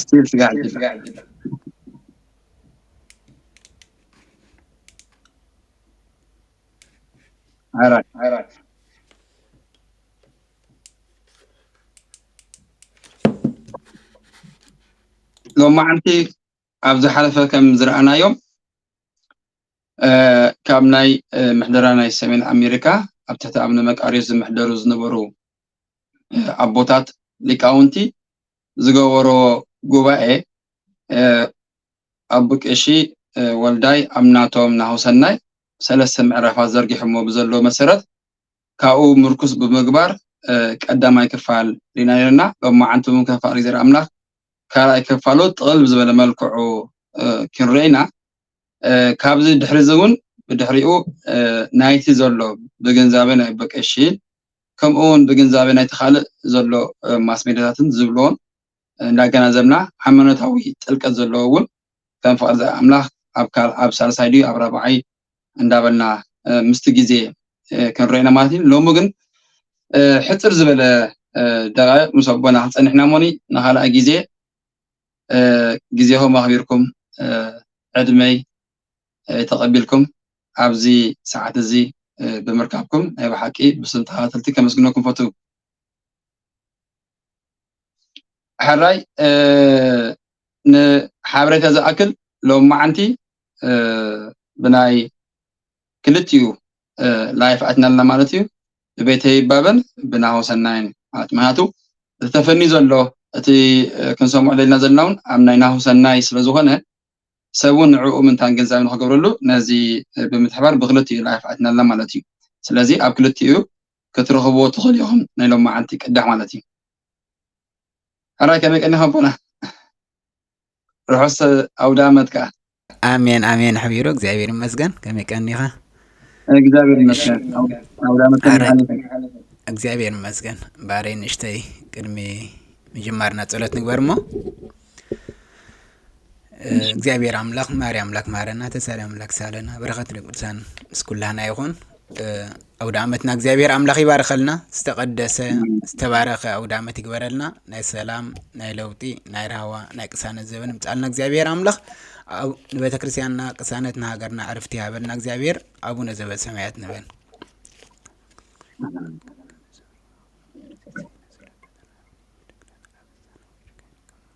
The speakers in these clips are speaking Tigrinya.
ስትል ስጋ ዒጅባ ዓራት ዓራት ሎማዓንቲ ኣብ ዝሓለፈ ከም ዝረኣናዮም ካብ ናይ ምሕደራ ናይ ሰሜን ኣሜሪካ ኣብ ትሕቲ ኣብነ መቃርዮስ ዝምሕደሩ ዝነበሩ ኣቦታት ሊቃውንቲ ዝገበሮ ጉባኤ ኣቡ ቀሺ ወልዳይ ኣብ ናቶም ናሁሰናይ ሰለስተ ምዕራፋት ዘርጊሖሞ ብዘሎ መሰረት ካብኡ ምርኩስ ብምግባር ቀዳማይ ክፋል ሪና ነርና ሎማዓንቲ እውን ከፋል እግዚኣብሔር ኣምላኽ ካልኣይ ክፋሉ ጥቕል ብዝበለ መልክዑ ክንርኢ ኢና ካብዚ ድሕሪ እዚ እውን ብድሕሪኡ ናይቲ ዘሎ ብግንዛበ ናይ በቀሺ ከምኡ ውን ብግንዛበ ናይቲ ካልእ ዘሎ ማስ ሜድያታትን ዝብልዎን እንዳገናዘብና ሃይማኖታዊ ጥልቀት ዘለዎ ውን ከም ፍቅርቲ ኣምላኽ ኣብ ካል ኣብ ሳልሳይ ድዩ ኣብ ራብዓይ እንዳበልና ምስቲ ግዜ ክንሪኦ ኢና ማለት እዩ ሎሚ ግን ሕጽር ዝበለ ደቃይቅ ምስ ኣቦና ክንጸንሕ ኢና እሞኒ ንኻልኣይ ግዜ ግዜኹም ኣኽቢርኩም ዕድመይ ተቐቢልኩም ኣብዚ ሰዓት እዚ ብምርካብኩም ናይ ብሓቂ ብስም ተኸታተልቲ ከመስግነኩም ፈቱ። ሕራይ ንሓበሬታ ዝኣክል ሎም መዓንቲ ብናይ ክልቲኡ ላይፍ ኣትና ኣለና ማለት እዩ ብቤተ ይባበን ብናሆ ሰናይን ማለት ምክንያቱ ተፈኒ ዘሎ እቲ ክንሰምዖ ዘለና ዘለና እውን ኣብ ናይ ናሆ ሰናይ ስለዝኾነ ሰብ ውን ንዕኡ ምንታን ግንዛበ ንኽገብረሉ ነዚ ብምትሕባር ብክልቲኡ ላይፍ ኣትና ኣላ ማለት እዩ ስለዚ ኣብ ክልቲኡ ክትረኽብዎ ትኽእሉ ኢኹም ናይ ሎም መዓልቲ ቅዳሕ ማለት እዩ ሕራይ ከመይ ቀኒኻ ኣቦና ርሑስ ኣውዳመት ከኣ ኣሜን ኣሜን ሕቢሩ እግዚኣብሔር ይመስገን ከመይ ቀኒኻ እግዚኣብሔር ይመስገን ኣውዳመት ከመይ ሓሊፈ እግዚኣብሔር ይመስገን ባሬ ንእሽተይ ቅድሚ ምጅማርና ጸሎት ንግበር እሞ እግዚኣብሔር ኣምላክ ማሪ ኣምላክ ማረና ተሳሪ ኣምላክ ሳለና በረከት ቅዱሳን ምስ ኩላና ይኹን ኣውደ ዓመትና እግዚኣብሔር ኣምላክ ይባርኸልና ዝተቀደሰ ዝተባረኸ ኣውደ ዓመት ይግበረልና ናይ ሰላም ናይ ለውጢ ናይ ራህዋ ናይ ቅሳነት ዘበን ምፃልና እግዚኣብሔር ኣምላክ ንቤተ ክርስቲያንና ቅሳነት ንሃገርና ዕርፍቲ ይሃበልና እግዚኣብሔር ኣቡነ ዘበሰማያት ንበል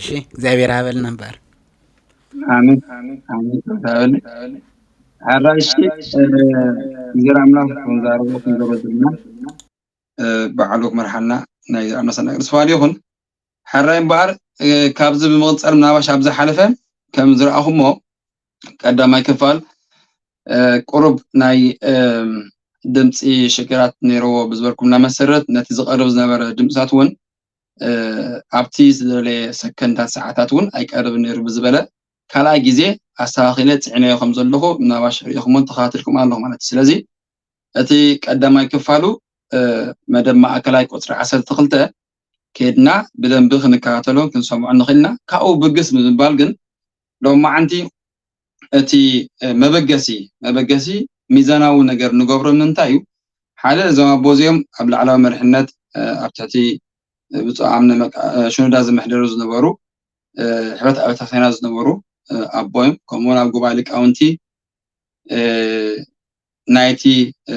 እሺ እግዚኣብሔር ያበልና እምበኣር ኣሜን ኣሜን ተባረክ ሓራይ እሺ እግዜር ኣምላክ ከም ዝሃረሞ ከም ዘረዘና ባዕሉ ክመርሓና ናይ ኣምላክ ሰናይ ቅዱስ ፈቃዱ ይኩን ሓራይ እምበኣር ካብዚ ብምቅጻል ምናባሽ ኣብ ዝሓለፈ ከም ዝረኣኹሞ ቀዳማይ ክፋል ቁሩብ ናይ ድምፂ ሽግራት ነይርዎ ብዝበልኩምና መሰረት ነቲ ዝቀርብ ዝነበረ ድምፅታት እውን ኣብቲ ዝደለየ ሰከንዳት ሰዓታት እውን ኣይቀርብን ነይሩ ብዝበለ ካልኣይ ግዜ ኣስተኻኺለ ፅዒነዮ ከም ዘለኹ ምናባሽ ሪኢኹሞን ተኸታትልኩም ኣለኹ ማለት እዩ ስለዚ እቲ ቀዳማይ ክፋሉ መደብ ማእከላይ ቁፅሪ ዓሰርተ ክልተ ከድና ብደንቢ ክንከታተሎን ክንሰምዖ ንኽእልና ካብኡ ብግስ ብምባል ግን ሎማዓንቲ እቲ መበገሲ መበገሲ ሚዛናዊ ነገር ንገብሮ ንምንታይ እዩ ሓደ እዞም ኣቦ እዚኦም ኣብ ላዕላዊ መሪሕነት ኣብ ትሕቲ ብፁዕ ኣምነ ሽኑዳ ዝምሕደሩ ዝነበሩ ሕብረት ኣብያተ ክርስቲያናት ዝነበሩ ኣቦ እዮም ከምኡውን ኣብ ጉባኤ ሊቃውንቲ ናይቲ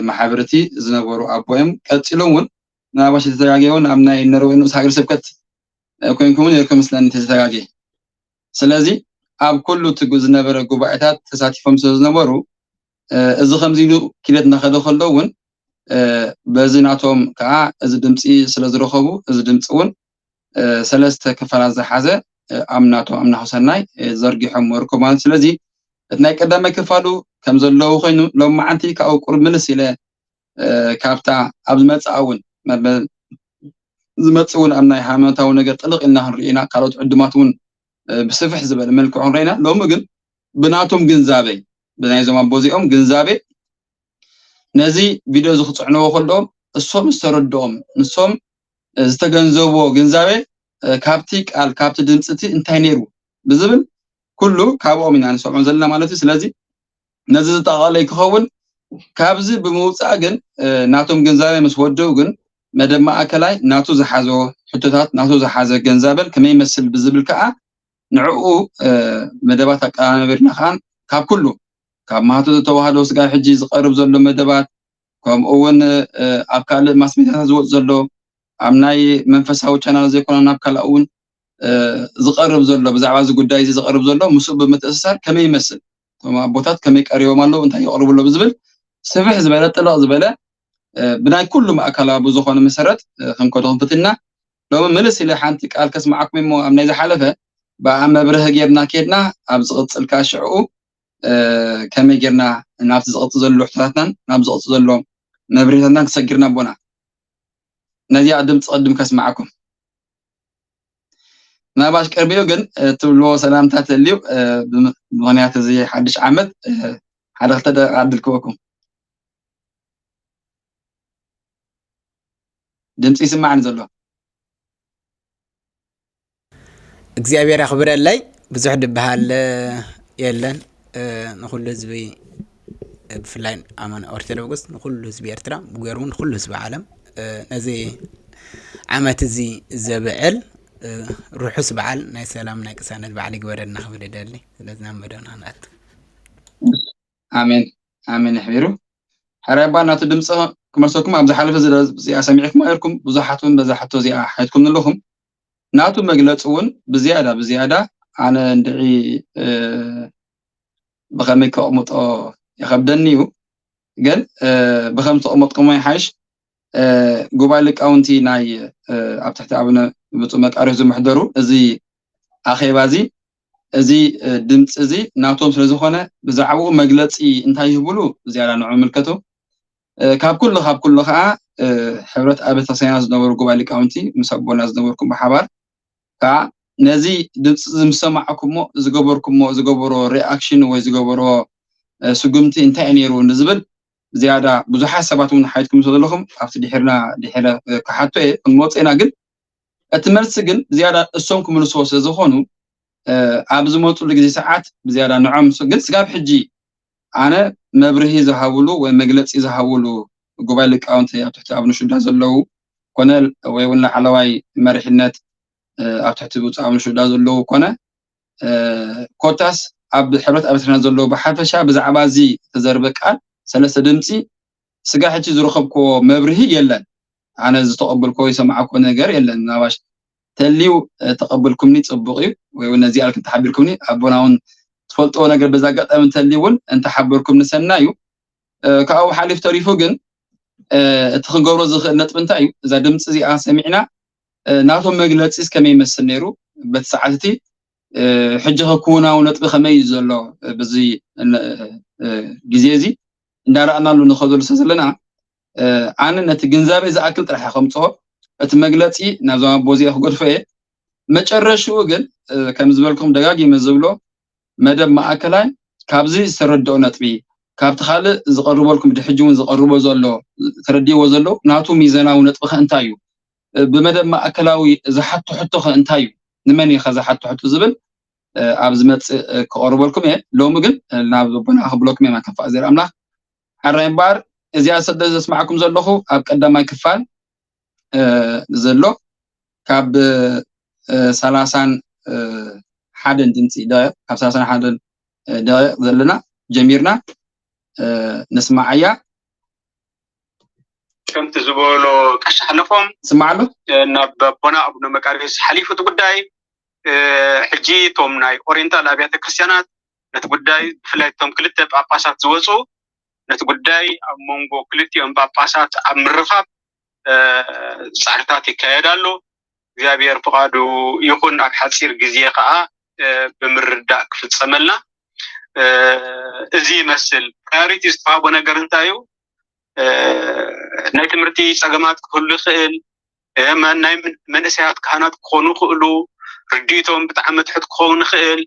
ማሕበርቲ ዝነበሩ ኣቦ እዮም ቀፂሎም እውን ምናልባሽ ዝተጋገ እውን ኣብ ናይ ነርወ ንኡስ ሃገር ስብከት ኮይንኩምን የርከ ምስለን ተዘተጋገ ስለዚ ኣብ ኩሉ እቲ ዝነበረ ጉባኤታት ተሳቲፎም ስለ ዝነበሩ እዚ ከምዚ ኢሉ ኪደት እናኸደ ከሎ እውን በዚ ናቶም ከዓ እዚ ድምፂ ስለ ዝረኸቡ እዚ ድምፂ እውን ሰለስተ ክፋላት ዝሓዘ ኣብ ናቶም ኣብ ናሁ ሰናይ ዘርጊሖም ወርከ ማለት ስለዚ እቲ ናይ ቀዳማይ ክፋሉ ከም ዘለዉ ኮይኑ ሎም መዓንቲ ካብኡ ቁርብ ምልስ ኢለ ካብታ ኣብ ዝመጽእ እውን መበል ዝመጽእ እውን ኣብ ናይ ሃይማኖታዊ ነገር ጥልቕ ኢልና ክንርኢ ኢና ካልኦት ዕዱማት እውን ብስፍሕ ዝበለ መልክዑ ክንርኢ ኢና ሎሚ ግን ብናቶም ግንዛበ ብናይ ዞም ኣቦ እዚኦም ግንዛበ ነዚ ቪድዮ እዚ ክፅዕንዎ ከለዎም እሶም ዝተረድኦም ንሶም ዝተገንዘብዎ ግንዛበ ካብቲ ቃል ካብቲ ድምፂ እቲ እንታይ ነይሩ ብዝብል ኩሉ ካብኦም ኢና ንሰምዖ ዘለና ማለት እዩ ስለዚ ነዚ ዝጠቓለይ ክኸውን ካብዚ ብምውፃእ ግን ናቶም ግንዛበ ምስ ወደው ግን መደብ ማእከላይ ናቱ ዝሓዞ ሕቶታት ናቱ ዝሓዘ ገንዛበን ከመይ ይመስል ብዝብል ከዓ ንዕኡ መደባት ኣቀናበርና ከዓ ካብ ኩሉ ካብ ማህቶ ተዋህዶ ስጋ ሕጂ ዝቀርብ ዘሎ መደባት ከምኡ እውን ኣብ ካልእ ማስሜታታት ዝወፅ ዘሎ ኣብ ናይ መንፈሳዊ ቻናል ዘይኮነ ናብ ካልእ እውን ዝቀርብ ዘሎ ብዛዕባ እዚ ጉዳይ እዚ ዝቀርብ ዘሎ ምስኡ ብምትእስሳር ከመይ ይመስል እቶም ኣቦታት ከመይ ቀሪቦም ኣለዉ እንታይ የቅርቡ ኣለዉ ዝብል ስፍሕ ዝበለ ጥልቕ ዝበለ ብናይ ኩሉ ማእከላዊ ብዝኾነ መሰረት ክንከዶ ክንፍትና ሎሚ ምልስ ኢለ ሓንቲ ቃል ከስማዓኩም እሞ ኣብ ናይ ዝሓለፈ ብኣ መብርህ ጌርና ኬድና ኣብ ዝቕፅል ከዓ ሽዕኡ ከመይ ጌርና ናብቲ ዝቕፅ ዘሎ ሕቶታትናን ናብ ዝቕፅ ዘሎ መብርህታትናን ክሰጊርና ኣቦና ነዚኣ ድምፂ ቅድም ከስማዓኩም ምናልባሽ ቅርቢኡ ግን ትብልዎ ሰላምታ ተልዩ ብምክንያት እዚ ሓድሽ ዓመት ሓደ ክልተ ደቂቃ ዕድል ክበኩም ድምፂ ይስማዕኒ ዘሎ እግዚኣብሔር ያኽብረለይ ብዙሕ ድበሃል የለን ንኹሉ ህዝቢ ብፍላይ ኣመንቲ ኦርቶዶክስ ንኹሉ ህዝቢ ኤርትራ ብገይሩ እውን ንኹሉ ህዝቢ ዓለም ነዚ ዓመት እዚ ዘብዕል ርሑስ በዓል ናይ ሰላም ናይ ቅሳነት በዓል ይግበረልና ክብል ይደሊ ስለዚ ናብ መደብና ክንኣቱ ኣሜን ኣሜን ይሕቢሩ ሓራይ ኣባ ናቱ ድምፂ ክመልሰኩም ኣብ ዝሓለፈ እዚኣ ሰሚዕኩም ኣይርኩም ብዙሓት እውን በዛ ሕቶ እዚኣ ሓትኩም ንለኹም ናቱ መግለፂ እውን ብዝያዳ ብዝያዳ ኣነ እንድዒ ብከመይ ከቅምጦ ይከብደኒ እዩ ግን ብከም ተቅመጥኩሞ ይሓሽ ጉባኤ ሊቃውንቲ ናይ ኣብ ትሕቲ ኣብነ ብፁዕ መቃርዮስ ዝምሕደሩ እዚ ኣኼባ እዚ እዚ ድምፂ እዚ ናቶም ስለ ዝኾነ ብዛዕባኡ መግለፂ እንታይ ይህብሉ ዝያዳ ንዑ ምልከቱ ካብ ኩሉ ካብ ኩሉ ከዓ ሕብረት ኣብ ቤተክርስትያና ዝነበሩ ጉባኤ ሊቃውንቲ ምስ ኣቦና ዝነበርኩም ብሓባር ከኣ ነዚ ድምጺ'ዚ ምስ ሰማዕኩሞ ዝገበርኩሞ ዝገበሮ ሪኣክሽን ወይ ዝገበሮ ስጉምቲ እንታይ'ዩ ነይሩ ንዝብል ዝያዳ ብዙሓት ሰባት እውን ሓቲትኩም ስለ ዘለኹም ኣብቲ ድሒርና ድሒረ ክሓቶ እየ ክንመጾ ኢና ግን እቲ መልሲ ግን ብዝያዳ እሶም ክምልስዎ ስለ ዝኾኑ ኣብ ዝመጽሉ ግዜ ሰዓት ብዝያዳ ንዖም ግን ስጋብ ሕጂ ኣነ መብርሂ ዝሃብሉ ወይ መግለጺ ዝሃብሉ ጉባኤ ሊቃውንቲ ኣብ ትሕቲ ኣቡነ ሽዳ ዘለዉ ኮነ ወይ እውን ላዕለዋይ መሪሕነት ኣብ ትሕቲ ብፁዕ ኣቡነ ሽዳ ዘለዉ ኮነ ኮታስ ኣብ ሕብረት ኣብያተ ክርስቲያናት ዘለዉ ብሓፈሻ ብዛዕባ እዚ ተዘርበ ቃል ሰለስተ ድምፂ ስጋ ሕጂ ዝረኸብክዎ መብርሂ የለን። ኣነ ዝተቀብልኮ ዝሰማዕኮ ነገር የለን ምናባሽ ተልዩ ተቀብልኩምኒ ጽቡቅ እዩ ወይ ውን ነዚ ኣልክ ተሓቢርኩምኒ ኣቦና ውን ትፈልጥዎ ነገር በዛ ኣጋጣሚ ተልዩ ውን እንተ ሓበርኩምኒ ሰናይ እዩ ካብኡ ሓሊፍ ተሪፉ ግን እቲ ክገብሮ ዝኽእል ነጥቢ እንታይ እዩ እዛ ድምጺ እዚኣ ሰሚዕና ናቶም መግለጺስ ከመይ ይመስል ነይሩ በቲ ሰዓት እቲ ሕጂ ከክውናዊ ነጥቢ ከመይ እዩ ዘሎ በዚ ግዜ እዚ እንዳረኣናሉ ንኸዘሉ ስለ ዘለና ኣነ ነቲ ግንዛቤ ዝኣክል ጥራሕ ከምጽኦ እቲ መግለጺ ናብዞም ኣቦ እዚኣ ክገድፎ እየ መጨረሽኡ ግን ከም ዝበልኩም ደጋጊመ ዝብሎ መደብ ማእከላይ ካብዚ ዝተረድኦ ነጥቢ ካብቲ ካልእ ዝቐርበልኩም ድሕጂ እውን ዝቐርቦ ዘሎ ተረዲዎ ዘሎ ናቱ ሚዘናዊ ነጥቢ ከ እንታይ እዩ ብመደብ ማእከላዊ ዝሓቶ ሕቶ ከ እንታይ እዩ ንመን እዩ ከ ዝሓቶ ሕቶ ዝብል ኣብ ዝመፅእ ክቐርበልኩም እየ ሎሚ ግን ናብ ቦና ክብለኩም እየ ማከፋ እግዜር ኣምላኽ ሐራይ እምበኣር እዚኣ ሰለ ዘስማዕኩም ዘለኹ ኣብ ቀዳማይ ክፋል ዘሎ ካብ ሰላሳን ሓደን ድምፂ ደቂቕ ካብ ሰላሳን ሓደን ደቂቕ ዘለና ጀሚርና ንስማዓያ ከምቲ ዝበሎ ቀሺ ሓለፎም ስማዕሉ ናብ ኣቦና ኣቡነ መቃርዮስ ሓሊፉ እቲ ጉዳይ ሕጂ እቶም ናይ ኦሪንታል ኣብያተ ክርስትያናት ነቲ ጉዳይ ብፍላይ እቶም ክልተ ጳጳሳት ዝወፁ ነቲ ጉዳይ ኣብ መንጎ ክልቲኦም ጳጳሳት ኣብ ምርኻብ ፃዕርታት ይካየድ ኣሎ። እግዚኣብሔር ፍቃዱ ይኹን ኣብ ሓፂር ግዜ ከዓ ብምርዳእ ክፍፀመልና እዚ ይመስል ፕራዮሪቲ ዝተዋህቦ ነገር እንታይ እዩ? ናይ ትምህርቲ ፀገማት ክህሉ ይኽእል፣ ናይ መንእሰያት ካህናት ክኾኑ ይኽእሉ፣ ርድኢቶም ብጣዕሚ ትሑት ክኸውን ይኽእል፣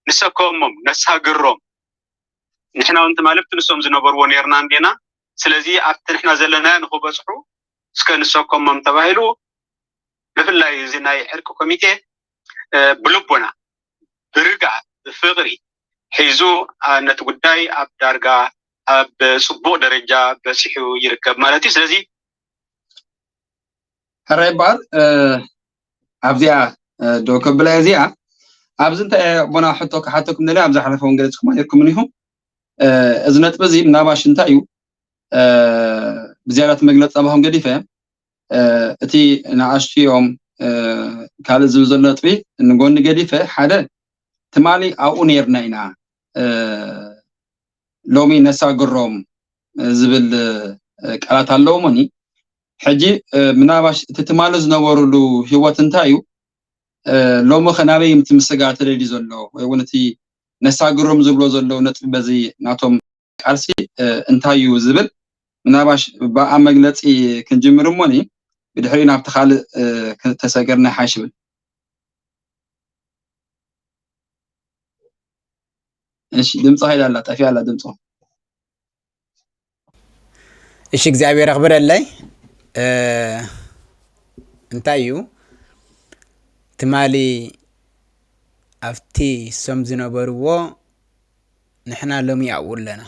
ንሰከሞም ነሳግሮም ንሕና ውን ትማሊ ኣብቲ ንሶም ዝነበርዎ ኔርና እንዲና ስለዚ ኣብቲ ንሕና ዘለናዮ ንኽበጽሑ እስከ ንሰከሞም ተባሂሉ ብፍላይ እዚ ናይ ዕርቂ ኮሚቴ ብልቦና ብርግኣት ብፍቕሪ ሒዙ ነቲ ጉዳይ ኣብ ዳርጋ ኣብ ጽቡቕ ደረጃ በጺሑ ይርከብ ማለት እዩ ስለዚ ሕራይ በዓል ኣብዚኣ ዶ ከብላ እዚኣ ኣብዚ እንታይ ኣቦና ሕቶ ክሓተኩም ደልያ ኣብ ዝሓለፈ እውን ገለፅኩም ኣለኩምን ኢኹም እዚ ነጥቢ እዚ ምናባሽ እንታይ እዩ ብዝያዳ እቲ መግለፂ ፃባኹም ገዲፈ እቲ ንኣሽትዮም ካልእ ዝብል ዘሎ ነጥቢ ንጎኒ ገዲፈ ሓደ ትማሊ ኣብኡ ነርና ኢና ሎሚ ነሳግሮም ዝብል ቃላት ኣለውሞኒ ሕጂ ምናባሽ እቲ ትማሊ ዝነበሩሉ ህይወት እንታይ እዩ ሎሚ ከ ናበይ ምቲ ምስጋር ተደልዩ ዘሎ ወይ እውን እቲ ነሳግሮም ዝብሎ ዘለዉ ነጥቢ በዚ ናቶም ቃልሲ እንታይ እዩ ዝብል ምናባሽ ብኣ መግለፂ ክንጅምር እሞኒ ብድሕሪኡ ናብቲ ካልእ ተሰገርና ይሓይሽ ይብል እሺ ድምፂ ኸይዳ ኣላ ጠፊኣ ኣላ ድምፆ እሺ እግዚኣብሔር ኣኽብረለይ እ፣ እንታይ እዩ ትማሊ ኣብቲ ሰም ዝነበርዎ ንሕና ሎሚ ኣብኡ ኣለና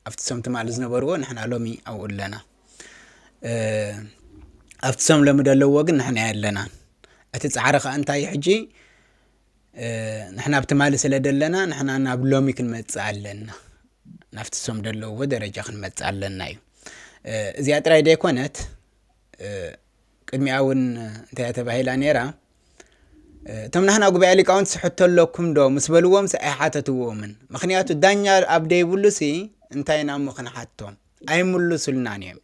ኣብቲ ሰም ትማሊ ዝነበርዎ ንሕና ሎሚ ኣብኡ ኣለና እ፣ ኣብቲ ሰም ሎሚ ዘለዎ ግን ንሕና ኣለና እቲ ፃዕሪ ከዓ እንታይ እዩ ሕጂ ንሕና ብ ትማሊ ስለ ደለና ንሕና ናብ ሎሚ ክንመጽእ ኣለና ናብቲ ሶም ደለዎ ደረጃ ክንመጽእ ኣለና እዩ እዚኣ ጥራይ ደይኮነት ቅድሚኣ እውን እንታይ ተባሂላ ነይራ እቶም ናህና ጉባኤ ሊቃውንቲ ስሕቶ ኣለኩም ዶ ምስ በልዎም ሲ ኣይሓተትዎምን ምክንያቱ ዳኛ ኣብ ደይብሉ ሲ እንታይ ኢና እሞ ክንሓቶም ኣይምልሱልናን እዮም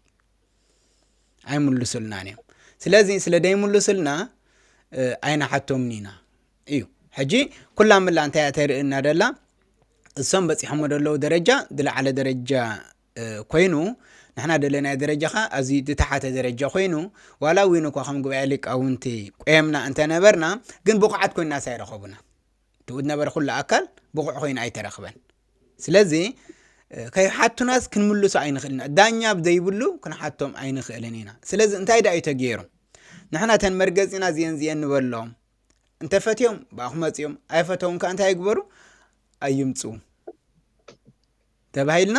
ኣይምልሱልናን እዮም ስለዚ ስለ ዘይምልሱልና ኣይንሓቶምን ኢና እዩ ሕጂ ኩላ ምላ እንታይ እያ ተርእየና ደላ እሶም በፂሖሞ ዘለዉ ደረጃ ዝለዓለ ደረጃ ኮይኑ ንሕና ዘለናዮ ደረጃ ኸዓ ኣዝዩ ዝተሓተ ደረጃ ኮይኑ ዋላ እውን እኳ ከም ጉባኤ ሊቃውንቲ ቆየምና እንተነበርና ግን ብቑዓት ኮይናስ ኣይረኸቡና እቲ ዝነበረ ኩሉ ኣካል ብቑዕ ኮይኑ ኣይተረኽበን ስለዚ ከይሓቱናስ ክንምልሶ ኣይንኽእል ኢና ዳኛ ዘይብሉ ክንሓቶም ኣይንኽእልን ኢና ስለዚ እንታይ ዳእዩ ተገይሩ ንሕና ተን መርገፂና ዝን ዝን ንበሎም እንተፈትዮም ብኣኹ መፅኦም ኣይፈተውን ከዓ እንታይ ይግበሩ ኣይምፁ ተባሂልና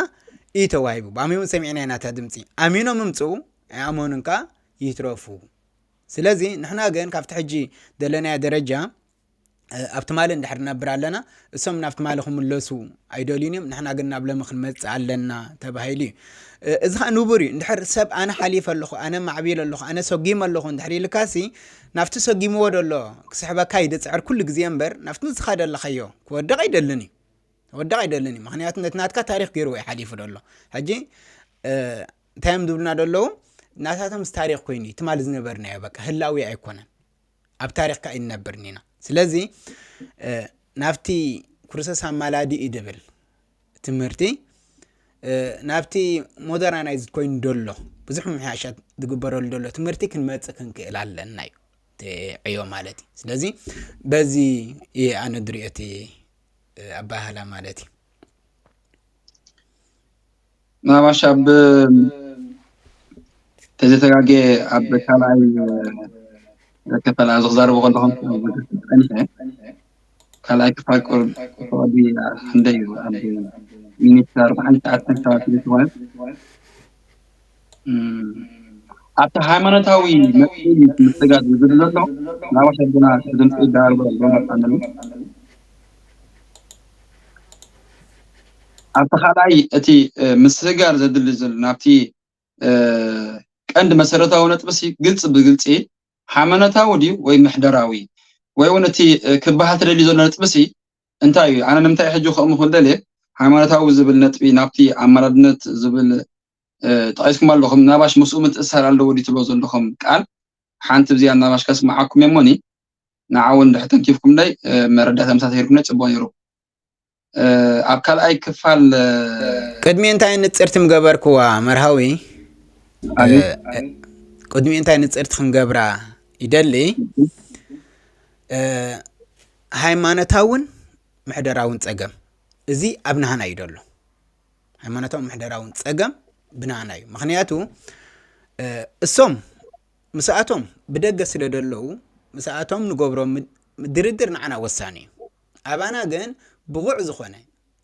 እዩ ተዋሂቡ ብኣሚሙ ሰሚዕና ኢና እታ ድምፂ ኣሚኖም ምምፁ ኣይኣመኑን ከዓ ይትረፉ ስለዚ ንሕና ግን ካብቲ ሕጂ ዘለናዮ ደረጃ ኣብ ትማሊ እንድሕር ንነብር ኣለና እሶም ናብ ትማሊ ክምለሱ ኣይደልዩን እዮም ንሕና ግን ናብ ሎሚ ክንመፅእ ኣለና ተባሂሉ እዩ እዚ ከዓ ንቡር እዩ እንድሕር ሰብ ኣነ ሓሊፈ ኣለኹ ኣነ ማዕቢለ ኣለኹ ኣነ ሰጊመ ኣለኹ እንድሕር ኢልካሲ ናብቲ ሰጊምዎ ደሎ ክስሕበካ ይድፅዕር ኩሉ ግዜ እምበር ናብቲ ንስኻ ደለኻዮ ክወድቕ ኣይደልን እዩ ክወድቕ ኣይደልን እዩ ምክንያቱ ነቲ ናትካ ታሪክ ገይርዎ እዩ ሓሊፉ ደሎ ሕጂ እንታይ እዮም ዝብሉና ደለዉ ናታቶምስ ታሪክ ኮይኑ እዩ ትማሊ ዝነበርናዮ በቃ ህላዊ ኣይኮነን ኣብ ታሪክ ካኣይንነብርን ኢና ስለዚ ናብቲ ኩርሰስ ኣማላዲ እዩ ድብል ትምህርቲ ናብቲ ሞደራናይዝ ኮይኑ ደሎ ብዙሕ ምምሕያሻት ዝግበረሉ ደሎ ትምህርቲ ክንመጽእ ክንክእል ኣለና እዩ ዕዮ ማለት እዩ ስለዚ በዚ እየ ኣነ ድሪኦ እቲ ኣባሃህላ ማለት እዩ ምናባሽ ኣብ ተዘተጋገ ኣብ ካልኣይ ዘከፈል ኣብዚ ክዛረቡ ከለኹም ፀኒሐ ካልኣይ ክፋል ቁርብ ተወዲ ክንደይ እዩ ኣብ ሚኒት ኣርባዓን ትሽዓተን ሰባት ዝኾነት ኣብቲ ሃይማኖታዊ መፍትሒ ምስጋድ ዝብል ዘሎ ናብ ኣሸንድና ብድምፂ ይደሃልዎ ኣሎ መርሓንሉ ኣብቲ ካልኣይ እቲ ምስጋር ዘድሊ ዘሎ ናብቲ ቀንዲ መሰረታዊ ነጥብሲ ግልፂ ብግልፂ ሃይማኖታዊ ድዩ ወይ ምሕደራዊ ወይ እውን እቲ ክበሃል ትደሊ ዘሎ ነጥብሲ እንታይ እዩ ኣነ ንምንታይ ሕጂ ከምኡ ክደልየ ሃይማኖታዊ ዝብል ነጥቢ ናብቲ ኣመራድነት ዝብል ጠቂስኩም ኣለኹም ናባሽ ምስኡ ምትእሳር ኣለዎ ድዩ ትብሎ ዘለኹም ቃል ሓንቲ ብዚኣ ናባሽ ከስምዓኩም እሞኒ ንዓ እውን ድሕር ተንኪፍኩምለይ መረዳእታ ምሳ ተሂርኩምለይ ፅቡቅ ነይሩ ኣብ ካልኣይ ክፋል ቅድሚ እንታይ ንፅርቲ ምገበርክዋ መርሃዊ ቅድሚ እንታይ ንፅርቲ ክንገብራ ይደሊ ሃይማኖታውን ምሕደራውን ፀገም እዚ ኣብ ናሃና እዩ ደሎ ሃይማኖታውን ምሕደራውን ጸገም ብናኣና እዩ ምክንያቱ እሶም ምስኣቶም ብደገ ስለ ደለዉ ምስኣቶም ንገብሮ ድርድር ንዓና ወሳኒ እዩ ኣባና ግን ብቑዕ ዝኾነ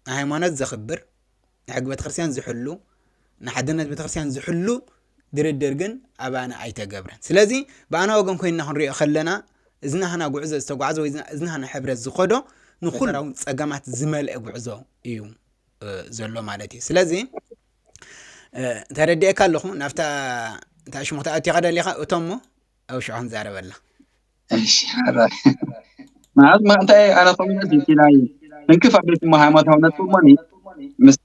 ንሃይማኖት ዘኽብር ንሕጊ ቤተክርስትያን ዝሕሉ ንሓድነት ቤተክርስትያን ዝሕሉ ድርድር ግን ኣባና ኣይተገብረን ስለዚ ብኣና ወገን ኮይንና ክንሪኦ ከለና እዚ ናህና ጉዕዞ ዝተጓዕዘ ወይ እዚ ናህና ሕብረት ዝኸዶ ንኩላውን ጸገማት ዝመልአ ጉዕዞ እዩ ዘሎ ማለት እዩ ስለዚ ተረዲኤካ ኣለኹ ናብታ እንታይ ሽሙ ክትኣትዮ ከደሊኻ እቶሞ ኣብ ሽዑ ክንዛረበላ እሺ ሓራይ ማለት ማእንታይ ኣነ ኮሚነት ይኪላይ እንክፍ ኣቤት እሞ ሃይማኖታዊ ነጥብ እሞኒ ምስቲ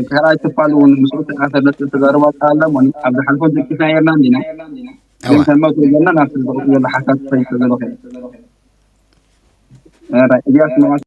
ካልኣይ ክፋል እውን ምስኡ ተዓሰበት ተዛረባ ኣላ እሞኒ ኣብ ዝሓልፎ ደቂስና የርና እንዲና ግን ተመቶ ዘለና ናብቲ ዝቕፅ ዘሎ ሓሳብ ክፈይቶ ዘለኹ እዚኣ ስምዓሲ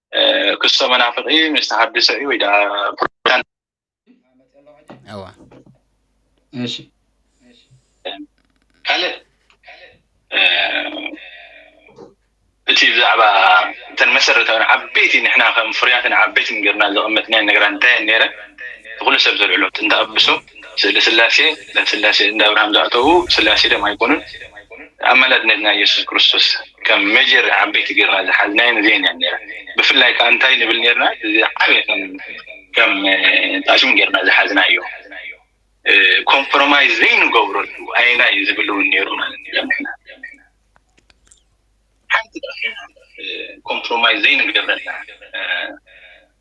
ክሶ መናፍቂ ምስ ተሃድሶ እዩ ወይ ደኣ ፕሮቴስታንት እዋ እሺ ካልእ እቲ ብዛዕባ እተን መሰረታዊ ዓበይቲ ንሕና ከም ፍሩያትን ዓበይትን ጌርና ዘቐመጥናየን ነገራት እንታይ እየን ነይረን ንኹሉ ሰብ ዘልዕሎ ጥንተ ኣብሶ ስእሊ ስላሴ ናብ ስላሴ እንዳ ኣብርሃም ዝኣተዉ ስላሴ ድዮም ኣይኮኑን ኣማላድነት ናይ የሱስ ክርስቶስ ከም መጀር ዓበይቲ ገርና ዝሓዝናየን እዚኤን እየን ነይረን ብፍላይ ከዓ እንታይ ንብል ነርና እዚ ዓበየ ከም ጣሽም ገርና ዝሓዝናዮ ኮምፕሮማይዝ ዘይንገብረሉ ኣይና እዩ ዝብል እውን ነይሩ ማለት እዩ ለምሕና ሓንቲ ኮምፕሮማይዝ ዘይንገብረላ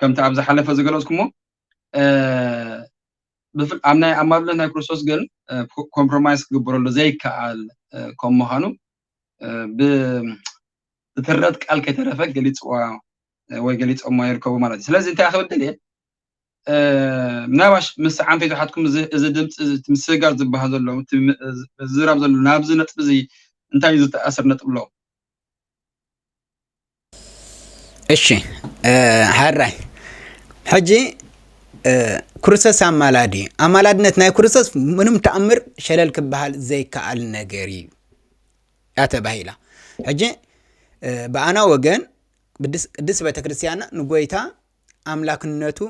ከምቲ ኣብ ዝሓለፈ ዝገለጽኩሞ ኣብ ናይ ኣማሉነት ናይ ክርስቶስ ግን ኮምፕሮማይዝ ክግበረሉ ዘይከኣል ከም ምዃኑ ብትረት ቃል ከይተረፈ ገሊፅዋ ወይ ገሊፆሞ ይርከቡ ማለት እዩ ስለዚ እንታይ ክብል ደልየ ምናባሽ ምስ ዓንፈይቱ ሓትኩም እዚ ድምፂ ምስጋር ዝበሃል ዘሎ ዝራብ ዘሎ ናብዚ ነጥቢ እዚ እንታይ እዩ ዝተኣስር ነጥቢ ኣሎ እሺ ሀራይ ሕጂ ኩርሰስ ኣማላዲ ኣማላድነት ናይ ኩርሰስ ምንም ተኣምር ሸለል ክበሃል ዘይከኣል ነገር እዩ እያ ተባሂላ ሕጂ ብኣና ወገን ቅድስት ቤተ ክርስቲያንና ንጎይታ ኣምላክነቱ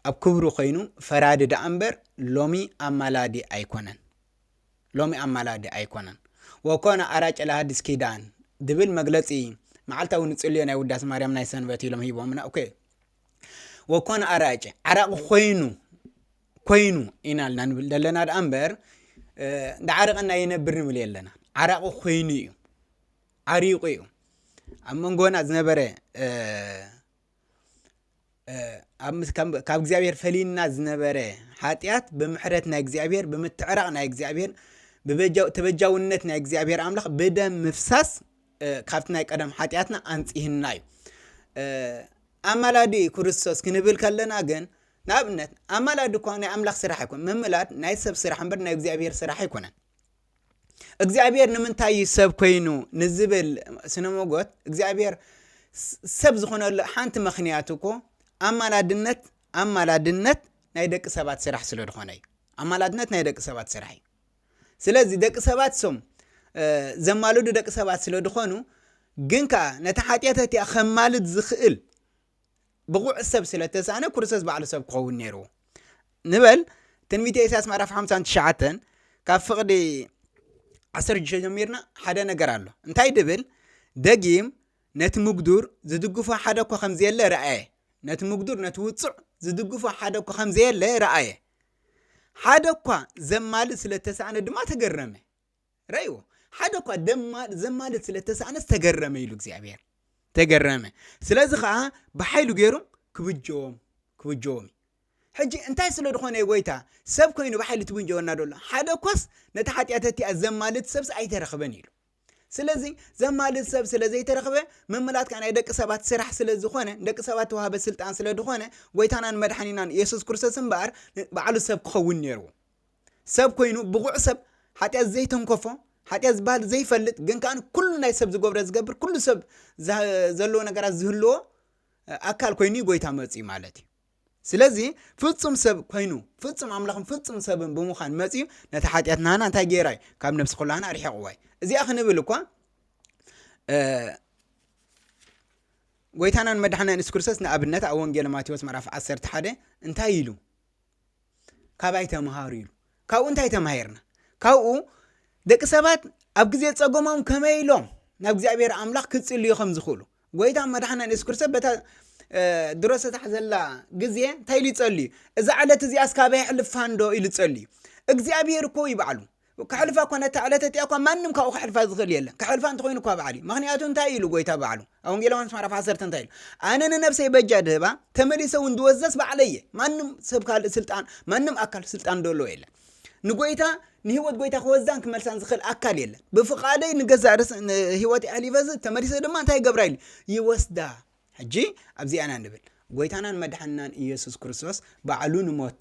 ኣብ ክብሩ ኮይኑ ፈራዲ ደኣ እምበር ሎሚ ኣማላዲ ኣይኮነን ሎሚ ኣማላዲ ኣይኮነን። ወኮነ ኣራጨ ለሃዲስ ኪዳን ዝብል መግለጺ መዓልታዊ ንጽልዮ ናይ ውዳሴ ማርያም ናይ ሰንበት ኢሎም ሂቦምና እኮ እዩ። ወኮነ ኣራጨ ዓራቂ ኮይኑ ኮይኑ ኢና ልና ንብል ዘለና ደኣ እምበር እንዳዓረቀና ይነብር ንብል የለና ዓራቂ ኮይኑ እዩ ዓሪቁ እዩ ኣብ መንጎና ዝነበረ ካብ እግዚኣብሔር ፈሊዩና ዝነበረ ሓጢኣት ብምሕረት ናይ እግዚኣብሔር ብምትዕራቕ ናይ እግዚኣብሔር ተበጃውነት ናይ እግዚኣብሔር ኣምላኽ ብደም ምፍሳስ ካብቲ ናይ ቀደም ሓጢኣትና ኣንጽህና እዩ ኣማላዲ ክርስቶስ ክንብል ከለና ግን ንኣብነት ኣማላዲ እኳ ናይ ኣምላኽ ስራሕ ኣይኮን ምምላድ ናይ ሰብ ስራሕ እምበር ናይ እግዚኣብሔር ስራሕ ኣይኮነን እግዚኣብሔር ንምንታይ እዩ ሰብ ኮይኑ ንዝብል ስነ ሞጎት እግዚኣብሔር ሰብ ዝኾነሉ ሓንቲ ምክንያት እኮ ኣማላድነት ኣማላድነት ናይ ደቂ ሰባት ስራሕ ስለ ዝኾነ እዩ ኣማላድነት ናይ ደቂ ሰባት ስራሕ እዩ ስለዚ ደቂ ሰባት ሶም ዘማልዱ ደቂ ሰባት ስለ ዝኾኑ ግን ከዓ ነቲ ሓጢኣት እቲኣ ከማልድ ዝኽእል ብቑዕ ሰብ ስለ እተሳእነ ክርስቶስ ባዕሉ ሰብ ክኸውን ነይርዎ ንበል። ትንቢተ ኢሳያስ ምዕራፍ ሓምሳን ትሽዓተን ካብ ፍቕዲ ዓሰርተ ሽዱሽተ ጀሚርና ሓደ ነገር ኣሎ እንታይ ድብል ደጊም ነቲ ምጉዱር ዝድግፎ ሓደ እኳ ከም ዘየለ ረኣየ ነቲ ምጉዱር ነቲ ውጹዕ ዝድግፎ ሓደ እኳ ከም ዘየለ ረኣየ ሓደ እኳ ዘማልእ ስለ እተሳእነ ድማ ተገረመ ረእዎ ሓደ እኳ ዘማልድ ስለ ተሳእነስ ተገረመ ኢሉ እግዚኣብሔር ተገረመ ስለዚ ከዓ ብሓይሉ ገይሩ ክብጀዎም ክብጀዎም ሕጂ እንታይ ስለ ዝኾነ ጎይታ ሰብ ኮይኑ ብሓይሉ ትብንጀወና ዶሎ ሓደ እኳስ ነቲ ሓጢኣት እቲኣ ዘማልድ ሰብስ ኣይተረኽበን ኢሉ ስለዚ ዘማልድ ሰብ ስለ ዘይተረኽበ ምምላጥ ከዓ ናይ ደቂ ሰባት ስራሕ ስለ ዝኾነ ደቂ ሰባት ተዋህበ ስልጣን ስለ ዝኾነ ጎይታናን መድሓኒናን የሱስ ክርስቶስ እምበኣር ባዕሉ ሰብ ክኸውን ነይርዎ ሰብ ኮይኑ ብቑዕ ሰብ ሓጢኣት ዘይተንከፎ ሓጢኣት ዝበሃል ዘይፈልጥ ግን ከዓ ኩሉ ናይ ሰብ ዝገብሮ ዝገብር ኩሉ ሰብ ዘለዎ ነገራት ዝህልዎ ኣካል ኮይኑ እዩ ጎይታ መፅኡ ማለት እዩ ስለዚ ፍፁም ሰብ ኮይኑ ፍፁም ኣምላኽን ፍፁም ሰብን ብምዃን መፅኡ ነቲ ሓጢኣት ናህና እንታይ ገይራ እዩ ካብ ነብሲ ኩላህና ኣርሒቕዋ እዩ እዚኣ ክንብል እኳ ጎይታናን መድሓናን የሱስ ክርስቶስ ንኣብነት ኣብ ወንጌል ማቴዎስ ምዕራፍ 11 እንታይ ኢሉ ካባይ ተምሃሩ ኢሉ ካብኡ እንታይ ተማሂርና ካብኡ ደቂ ሰባት ኣብ ግዜ ጸገሞም ከመይ ኢሎም ናብ እግዚኣብሔር ኣምላኽ ክጽልዩ ከም ዝኽእሉ ጎይታ መድሓና ንየሱስ ክርስቶስ በታ ድሮ ዝተታሕዘላ ግዜ እንታይ ኢሉ ይጸልዩ እዛ ዕለት እዚኣ እስካበይ ሕልፋንዶ ኢሉ ጸልዩ እግዚኣብሔር እኮ ይበዕሉ ከሕልፋ እኳ ነታ ዕለት እቲኣ እኳ ማንም ካብኡ ከሕልፋ ዝኽእል የለን። ከሕልፋ እንተኾይኑ እኳ በዓል እዩ። ምኽንያቱ እንታይ ኢሉ ጎይታ በዓሉ ኣብ ወንጌል ዮሃንስ ምዕራፍ ዓሰርተ እንታይ ኢሉ ኣነ ንነፍሰይ በጃ ድህባ ተመሊሰ እውን ድወዘስ በዓለይ እየ። ማንም ሰብ ካልእ ስልጣን ማንም ኣካል ስልጣን ደለዎ የለን። ንጎይታ ንህይወት ጎይታ ክወዛን ክመልሳን ዝኽእል ኣካል የለን። ብፍቓደይ ንገዛእ ርእስ ህይወት ኣሕሊፈ ዝህብ ተመሊሰ ድማ እንታይ ይገብራ ኢሉ ይወስዳ። ሕጂ ኣብዚኣና ንብል ጎይታናን መድሓንናን ኢየሱስ ክርስቶስ ባዕሉ ንሞት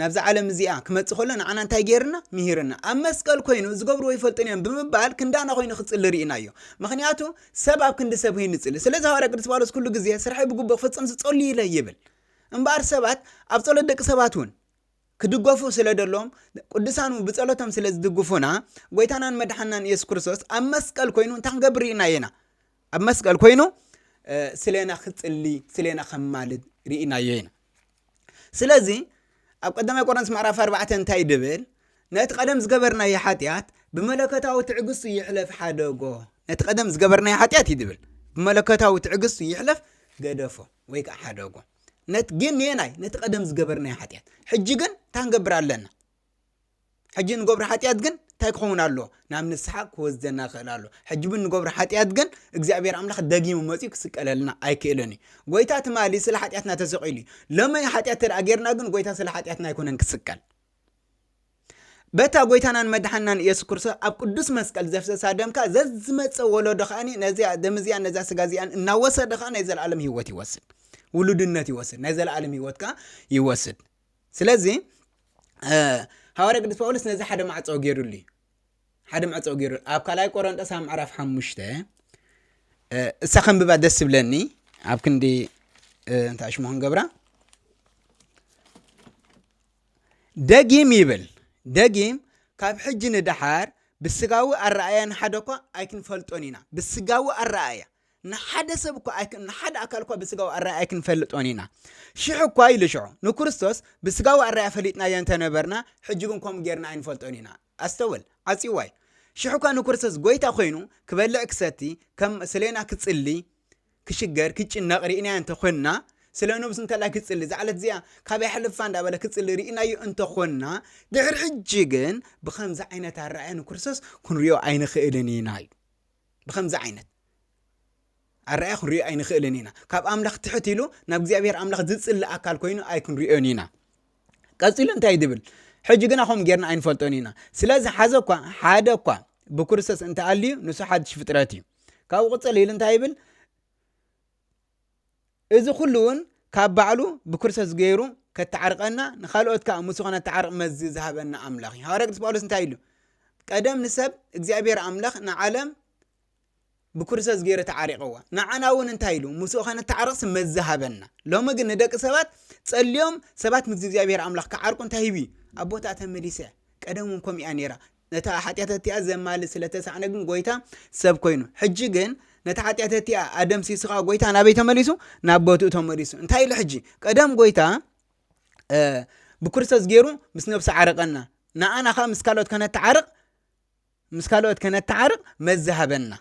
ናብዛ ዓለም እዚኣ ክመጽእ ከሎ ንዓና እንታይ ገይርና? ምሂርና። ኣብ መስቀል ኮይኑ ዝገብርዎ ኣይፈልጡን እዮም ብምባል ክንዳና ኮይኑ ክጽሊ ርኢናዮ። ምኽንያቱ ሰብ ኣብ ክንዲ ሰብ ኮይኑ ይጽሊ። ስለዚ ሃዋርያ ቅዱስ ጳውሎስ ኩሉ ግዜ ስርሐይ ብግቡእ ክፍጽም ዝጸሉ ኢለ ይብል። እምበኣር ሰባት ኣብ ጸሎት ደቂ ሰባት እውን ክድገፉ ስለ ደሎም ቅዱሳን እውን ብጸሎቶም ስለ ዝድግፉና ጎይታናን መድሓናን ኢየሱስ ክርስቶስ ኣብ መስቀል ኮይኑ እንታይ ክንገብር ርኢናዮ ኢና? ኣብ መስቀል ኮይኑ ስለና ክጽሊ ስለና ከማልድ ርኢናዮ ኢና። ስለዚ ኣብ ቀዳማይ ቆሮንቶስ ምዕራፍ ኣርባዕተ እንታይ ድብል ነቲ ቀደም ዝገበርናዮ ሓጢኣት ብመለከታዊ ትዕግስቱ ይሕለፍ ሓደጎ ነቲ ቀደም ዝገበርናዮ ሓጢኣት እዩ ድብል ብመለከታዊ ትዕግስቱ ይሕለፍ ገደፎ ወይ ከዓ ሓደጎ ነት ግን ንየናይ ነቲ ቀደም ዝገበርናዮ ሓጢኣት ሕጂ ግን እንታይ ንገብር ኣለና ሕጂ እንገብሮ ሓጢኣት ግን እንታይ ክኸውን ኣለዎ ናብ ንስሓ ክወስደና ይኽእል ኣሎ ሕጂ ብ እንገብሮ ሓጢኣት ግን እግዚኣብሔር ኣምላኽ ደጊሙ መጺኡ ክስቀለልና ኣይክእልን እዩ ጎይታ ትማሊ ስለ ሓጢኣትና ተሰቂሉ እዩ ሎሚ ሓጢኣት ተደኣ ጌርና ግን ጎይታ ስለ ሓጢኣትና ኣይኮነን ክስቀል በታ ጎይታናን መድሓናን ኢየሱስ ክርስቶስ ኣብ ቅዱስ መስቀል ዘፍሰሳ ደምካ ዘዝመፀ ወለዶ ከዓኒ ነዚያ ደም እዚኣን ነዛ ስጋ እዚኣን እናወሰደ ከዓ ናይ ዘለኣለም ህይወት ይወስድ ውሉድነት ይወስድ ናይ ዘለኣለም ህይወት ከዓ ይወስድ ስለዚ ሃዋርያ ቅዱስ ጳውሎስ ነዚ ሓደ ማዕፀኦ ገይሩሉ እዩ ሓደ ማዕፀኦ ገይሩ ኣብ ካልኣይ ቆሮንጦስ ኣብ ምዕራፍ ሓሙሽተ እሳ ከንብባ ደስ ዝብለኒ ኣብ ክንዲ እንታይ ሽሙ ክንገብራ ደጊም ይብል ደጊም ካብ ሕጂ ንደሓር ብስጋዊ ኣረኣያን ሓደ እኳ ኣይክንፈልጦን ኢና ብስጋዊ ኣረኣያ ንሓደ ሰብ እኳ ኣይክ- ንሓደ ኣካል እኳ ብስጋዊ ኣራያ ኣይክንፈልጦን ኢና ሽሕ እኳ ኢሉ ሽዑ ንክርስቶስ ብስጋዊ ኣራያ ፈሊጥናዮ እንተነበርና ሕጂ ግን ከምኡ ጌርና ኣይንፈልጦን ኢና ኣስተውል ዓጽይዋ እዩ ሽሕ እኳ ንክርስቶስ ጎይታ ኮይኑ ክበልዕ ክሰቲ ከም ስለና ክጽሊ ክሽገር ክጭነቕ ርኢናዮ እንተኾንና ስለ ነብሱ እንተላይ ክጽሊ እዛ ዕለት እዚኣ ካበይ ሕልፋ እንዳበለ ክጽሊ ርኢናዮ እንተኾንና ድሕሪ ሕጂ ግን ብከምዚ ዓይነት ኣረኣያ ንክርስቶስ ክንሪኦ ኣይንኽእልን ኢና እዩ ብኸምዚ ዓይነት ኣረኣያ ክንሪኦ ኣይንኽእልን ኢና። ካብ ኣምላኽ ትሕት ኢሉ ናብ እግዚኣብሔር ኣምላኽ ዝጽሊ ኣካል ኮይኑ ኣይክንሪኦን ኢና። ቀጺሉ እንታይ ድብል ሕጂ ግና ከምኡ ጌርና ኣይንፈልጦን ኢና። ስለዚ ሓዘ እኳ ሓደ እኳ ብክርስቶስ እንተኣልዩ ንሱ ሓድሽ ፍጥረት እዩ። ካብኡ ቅጽል ኢሉ እንታይ ይብል? እዚ ኩሉ እውን ካብ ባዕሉ ብክርስቶስ ገይሩ ከተዓርቀና ንካልኦት ከዓ ምስ ከነተዓርቅ መዚ ዝሃበና ኣምላኽ እዩ ሃዋርያ ቅዱስ ጳውሎስ እንታይ ኢሉ ቀደም ንሰብ እግዚኣብሔር ኣምላኽ ንዓለም ብክርስቶስ ገይረ ተዓሪቀዋ ንዓና እውን እንታይ ኢሉ ምስኡ ከነተዓርቅስ መዚ ሃበና ሎሚ ግን ንደቂ ሰባት ጸልዮም ሰባት ምስ እግዚኣብሔር ኣምላኽ ክዓርቁ እንታይ ሂቡ ኣቦታ ተመሊሰ ቀደም እውን ከምኡ እያ ነይራ ነታ ሓጢኣት እቲኣ ዘማልእ ስለ እተሳእነ ግን ጐይታ ሰብ ኰይኑ። ሕጂ ግን ነታ ሓጢኣት እቲኣ ኣደምሲሱ ኸኣ ጐይታ ናበይ ተመሊሱ? ናብ ቦትኡ ተመሊሱ። እንታይ ኢሉ ሕጂ? ቀደም ጐይታ ብክርስቶስ ገይሩ ምስ ነብሱ ዓረቐና፣ ንኣና ኸኣ ምስ ካልኦት ከነተዓርቕ ምስ ካልኦት ከነተዓርቕ መዚ ሃበና።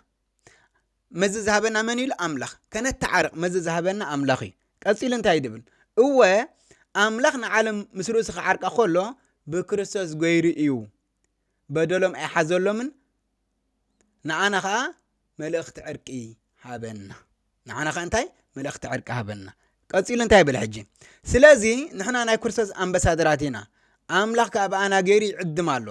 መዚ ዝሃበና መን ኢሉ ኣምላኽ ከነተዓርቕ መዚ ዝሃበና ኣምላኽ እዩ ቀፂሉ እንታይ ድብል እወ ኣምላኽ ንዓለም ምስ ርእሱ ክዓርቃ ከሎ ብክርስቶስ ገይሩ እዩ በደሎም ኣይሓዘሎምን ንኣና ከዓ መልእኽቲ ዕርቂ ሃበና ንዓና ከ እንታይ መልእኽቲ ዕርቂ ሃበና ቀፂሉ እንታይ ይብል ሕጂ ስለዚ ንሕና ናይ ክርስቶስ ኣምበሳደራት ኢና ኣምላኽ ከዓ ብኣና ገይሩ ይዕድም ኣሎ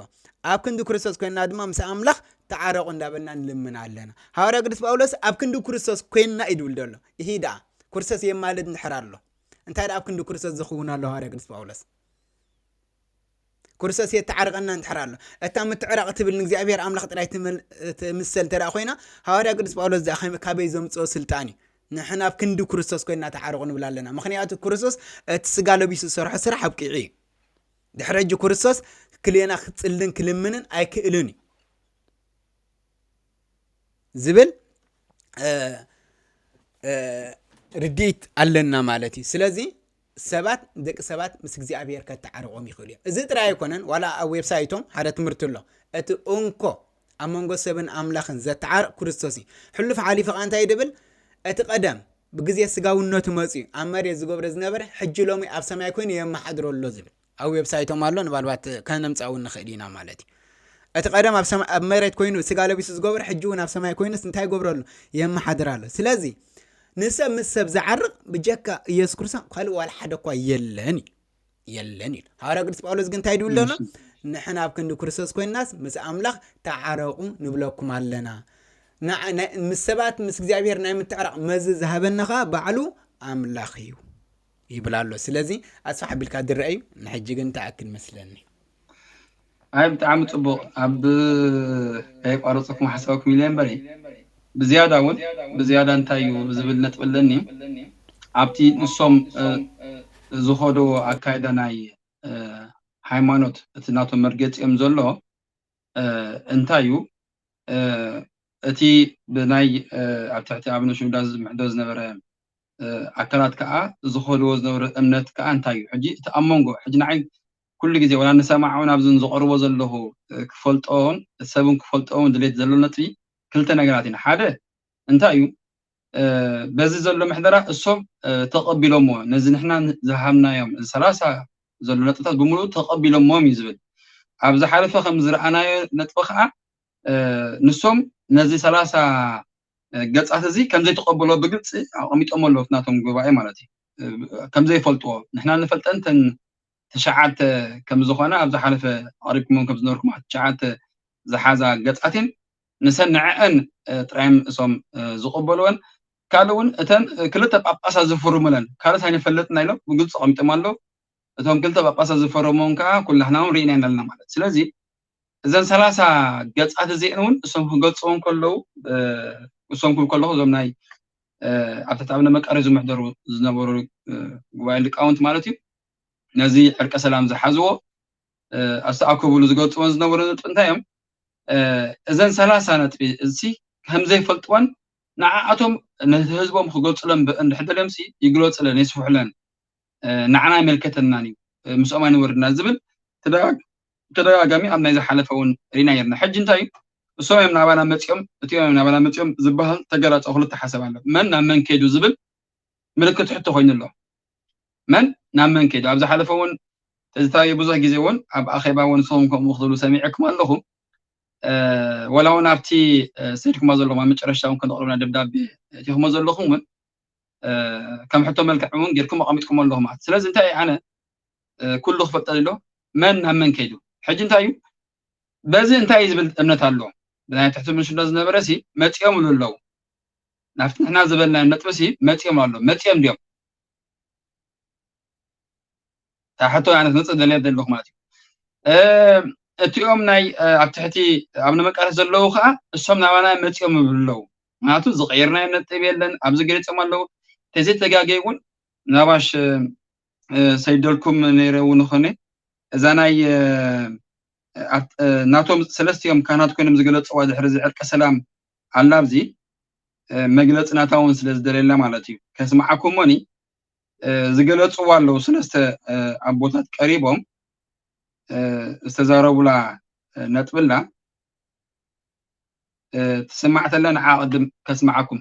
ኣብ ክንዲ ክርስቶስ ኮይንና ድማ ምስ ኣምላኽ ተዓረቑ እንዳበልና ንልምና ኣለና ሃዋርያ ቅዱስ ጳውሎስ ኣብ ክንዲ ክርስቶስ ኮይንና እዩ ድብል ደሎ ይህ ደኣ ክርስቶስ የማልድ እንድሕር ኣሎ እንታይ ደኣ ኣብ ክንዲ ክርስቶስ ዝኽውን ኣሎ ሃዋርያ ቅዱስ ጳውሎስ ክርስቶስ የተዓርቀና እንድሕር ኣሎ እታ ምትዕራቕ ትብል ንእግዚኣብሔር ኣምላኽ ጥራይ ትምሰል ተደኣ ኮይና ሃዋርያ ቅዱስ ጳውሎስ ዘኣ ካበይ ዘምፅኦ ስልጣን እዩ ንሕና ኣብ ክንዲ ክርስቶስ ኮይና ተዓርቑ ንብል ኣለና ምክንያቱ ክርስቶስ እቲ ስጋ ለቢሱ ዝሰርሖ ስራሕ ኣብቂዑ እዩ ድሕረ እጂ ክርስቶስ ክልየና ክፅልን ክልምንን ኣይክእልን እዩ ዝብል ርድኢት ኣለና ማለት እዩ ስለዚ ሰባት ንደቂ ሰባት ምስ እግዚኣብሔር ከተዓርቆም ይኽእሉ እዮም። እዚ ጥራይ ኣይኮነን ዋላ ኣብ ዌብሳይቶም ሓደ ትምህርቲ ኣሎ እቲ እንኮ ኣብ መንጎ ሰብን ኣምላኽን ዘተዓርቅ ክርስቶስ እዩ። ሕሉፍ ሓሊፉ ከኣ እንታይ ድብል እቲ ቀደም ብግዜ ስጋውነቱ መጽዩ ኣብ መሬት ዝገብሮ ዝነበረ ሕጂ ሎሚ ኣብ ሰማይ ኮይኑ የመሓድሮ ኣሎ ዝብል ኣብ ዌብሳይቶም ኣሎ ንባልባት ከነምጻ እውን ንኽእል ኢና ማለት እዩ እቲ ቀደም ኣብ ሰማይ ኣብ መሬት ኮይኑ ስጋ ለቢሱ ዝገብሮ ሕጂ እውን ኣብ ሰማይ ኮይኑስ እንታይ ይገብሮ ኣሎ የመሓድር ኣሎ ስለዚ ንሰብ ምስ ሰብ ዝዓርቕ ብጀካ ኢየሱስ ክርስቶስ ካልእ ዋላ ሓደ እኳ የለን እዩ የለን እዩ ሃዋርያ ቅዱስ ጳውሎስ ግን እንታይ ድብል ደሎ ንሕና ኣብ ክንዲ ክርስቶስ ኮይናስ ምስ ኣምላኽ ተዓረቑ ንብለኩም ኣለና ምስ ሰባት ምስ እግዚኣብሔር ናይ ምትዕራቕ መዚ ዝሃበና ከዓ ባዕሉ ኣምላኽ እዩ ይብል ኣሎ ስለዚ ኣስፋሕ ኣቢልካ ዝረአ እዩ ንሕጂ ግን ተኣክል መስለኒ ኣይ ብጣዕሚ ፅቡቅ ኣብ ከየቋረፅኩም ሓሳብክ ሚልዮን በሪ ብዝያዳ እውን ብዝያዳ እንታይ እዩ ዝብል ነጥቢ ኣለኒ ኣብቲ ንሶም ዝኸደዎ ኣካይዳ ናይ ሃይማኖት እቲ ናቶም መርገፂኦም ዘሎ እንታይ እዩ እቲ ብናይ ኣብ ትሕቲ ኣብነ ሽምዳ ዝምሕዶ ዝነበረ ኣካላት ከዓ ዝኸድዎ ዝነበረ እምነት ከዓ እንታይ እዩ ሕጂ እቲ ኣብ መንጎ ሕጂ ንዓይ ኩሉ ግዜ ወላ ንሰማዕውን ኣብዚ ዝቐርቦ ዘለኹ ክፈልጦን ሰብን ክፈልጦን ድሌት ዘሎ ነጥቢ ክልተ ነገራት ኢና ሓደ እንታይ እዩ በዚ ዘሎ ምሕደራ እሶም ተቐቢሎምዎ ነዚ ንሕና ዝሃብናዮም እዚ ሰላሳ ዘሎ ነጥብታት ብምሉኡ ተቐቢሎምዎም እዩ ዝብል ኣብ ዝሓለፈ ከም ዝረኣናዮ ነጥቢ ከዓ ንሶም ነዚ ሰላሳ ገፃት እዚ ከም ዘይተቐበሎ ብግልፂ ኣቐሚጦሞ ኣለዉ ናቶም ጉባኤ ማለት እዩ ከም ዘይፈልጥዎ ንሕና ንፈልጠን ተን ትሽዓተ ከም ዝኾና ኣብ ዝሓለፈ ኣቕሪብኩሞም ከም ዝነበርኩም ትሽዓተ ዝሓዛ ገፃትን ንሰን ንዐኣን ጥራየን እሶም ዝቅበልወን ካልእ ውን እተን ክልተ ጳጳሳት ዝፍርሙለን ካልኦት ኣይንፈልጥና ኢሎም ብግልጺ ኣቀሚጦም ኣለው እቶም ክልተ ጳጳሳት ዝፈረምወን ከኣ ኩላሕና ውን ሪኢናየን ኣለና ማለት ስለዚ እዘን ሰላሳ ገጻት እዚኤን ውን እሶም ክገልጽወን ከለው እሶም ክብል ከለኩ እዞም ናይ ኣብ ትሕቲ ኣብነ መቃርዮስ ዝምሕደሩ ዝነበሩ ጉባኤ ሊቃውንት ማለት እዩ ነዚ ዕርቀ ሰላም ዝሓዝዎ ኣስተኣከቡሉ ዝገልጽወን ዝነበሩ ነጥቢ እንታይ እዮም እዘን ሰላሳ ነጥቢ እዚ ከም ዘይፈልጥወን ንዓኣቶም ንህዝቦም ክገልጽሎም እንድሕር ደልዮምሲ ይግለጹለን የስፍሑለን ንዓና ኣይመልከተናን እዩ ምስኦም ኣይንወርድና ዝብል ተደጋጋሚ ኣብ ናይ ዝሓለፈ እውን ሪና ነርና ሕጂ እንታይ እዩ እሶም እዮም ናባና መጺኦም እቲኦም እዮም ናባና መጺኦም ዝበሃል ተገላጾ ክልተ ሓሰብ ኣሎ መን ናብ መን ከይዱ ዝብል ምልክት ሕቶ ኮይኑ ኣሎ መን ናብ መን ከይዱ ኣብ ዝሓለፈ እውን ተዝታየ ብዙሕ ግዜ እውን ኣብ ኣኼባ እውን ንስኹም ከምኡ ክትብሉ ሰሚዐኩም ኣለኹ ወላ እውን ኣብቲ ሰድኩማ ዘለኹም ኣብ መጨረሻ እውን ከነቕርብና ደብዳቤ እቲኹሞ ዘለኹም እውን ከም ሕቶ መልክዕ እውን ጌርኩም ኣቐሚጥኩም ኣለኹ ማለት ስለዚ እንታይ ኣነ ኩሉ ክፈልጠ ዘሎ መን ናብ መን ከይዱ ሕጂ እንታይ እዩ በዚ እንታይ እዩ ዝብል እምነት ኣሎ ብናይ ትሕቲ ምንሽሎ ዝነበረ ሲ መፂኦም ሉ ኣለዉ ናብቲ ንሕና ዝበልናዮም ነጥቢሲ መጺኦም ኣሎ መጺኦም ድዮም እታ ሕቶ ኣነ ክመጽእ ደልየ ዘለኹ ማለት እዩ እቲኦም ናይ ኣብ ትሕቲ ኣብ ንመቃለስ ዘለዉ ከዓ እሶም ናባና መፂኦም ይብሉ ኣለዉ ምክንያቱ ዝቀየርናዮ ነጥብ የለን ኣብዚ ገሊፆም ኣለዉ ተዘይተጋገይ እውን ናባሽ ሰይደልኩም ነይረ እውን ይኮነ እዛ ናይ ናቶም ሰለስቲኦም ካህናት ኮይኖም ዝገለጽዋ ድሕሪ እዚ ዕርቀ ሰላም ኣላ ኣብዚ መግለጺ ናታ እውን ስለ ዝደለየላ ማለት እዩ ከስምዓኩም እሞኒ ዝገለጽዋ ኣለዉ ሰለስተ ኣቦታት ቀሪቦም ዝተዛረቡላ ነጥብላ ትስማዕ ተላ ንዓ ቅድም ከስምዓኩም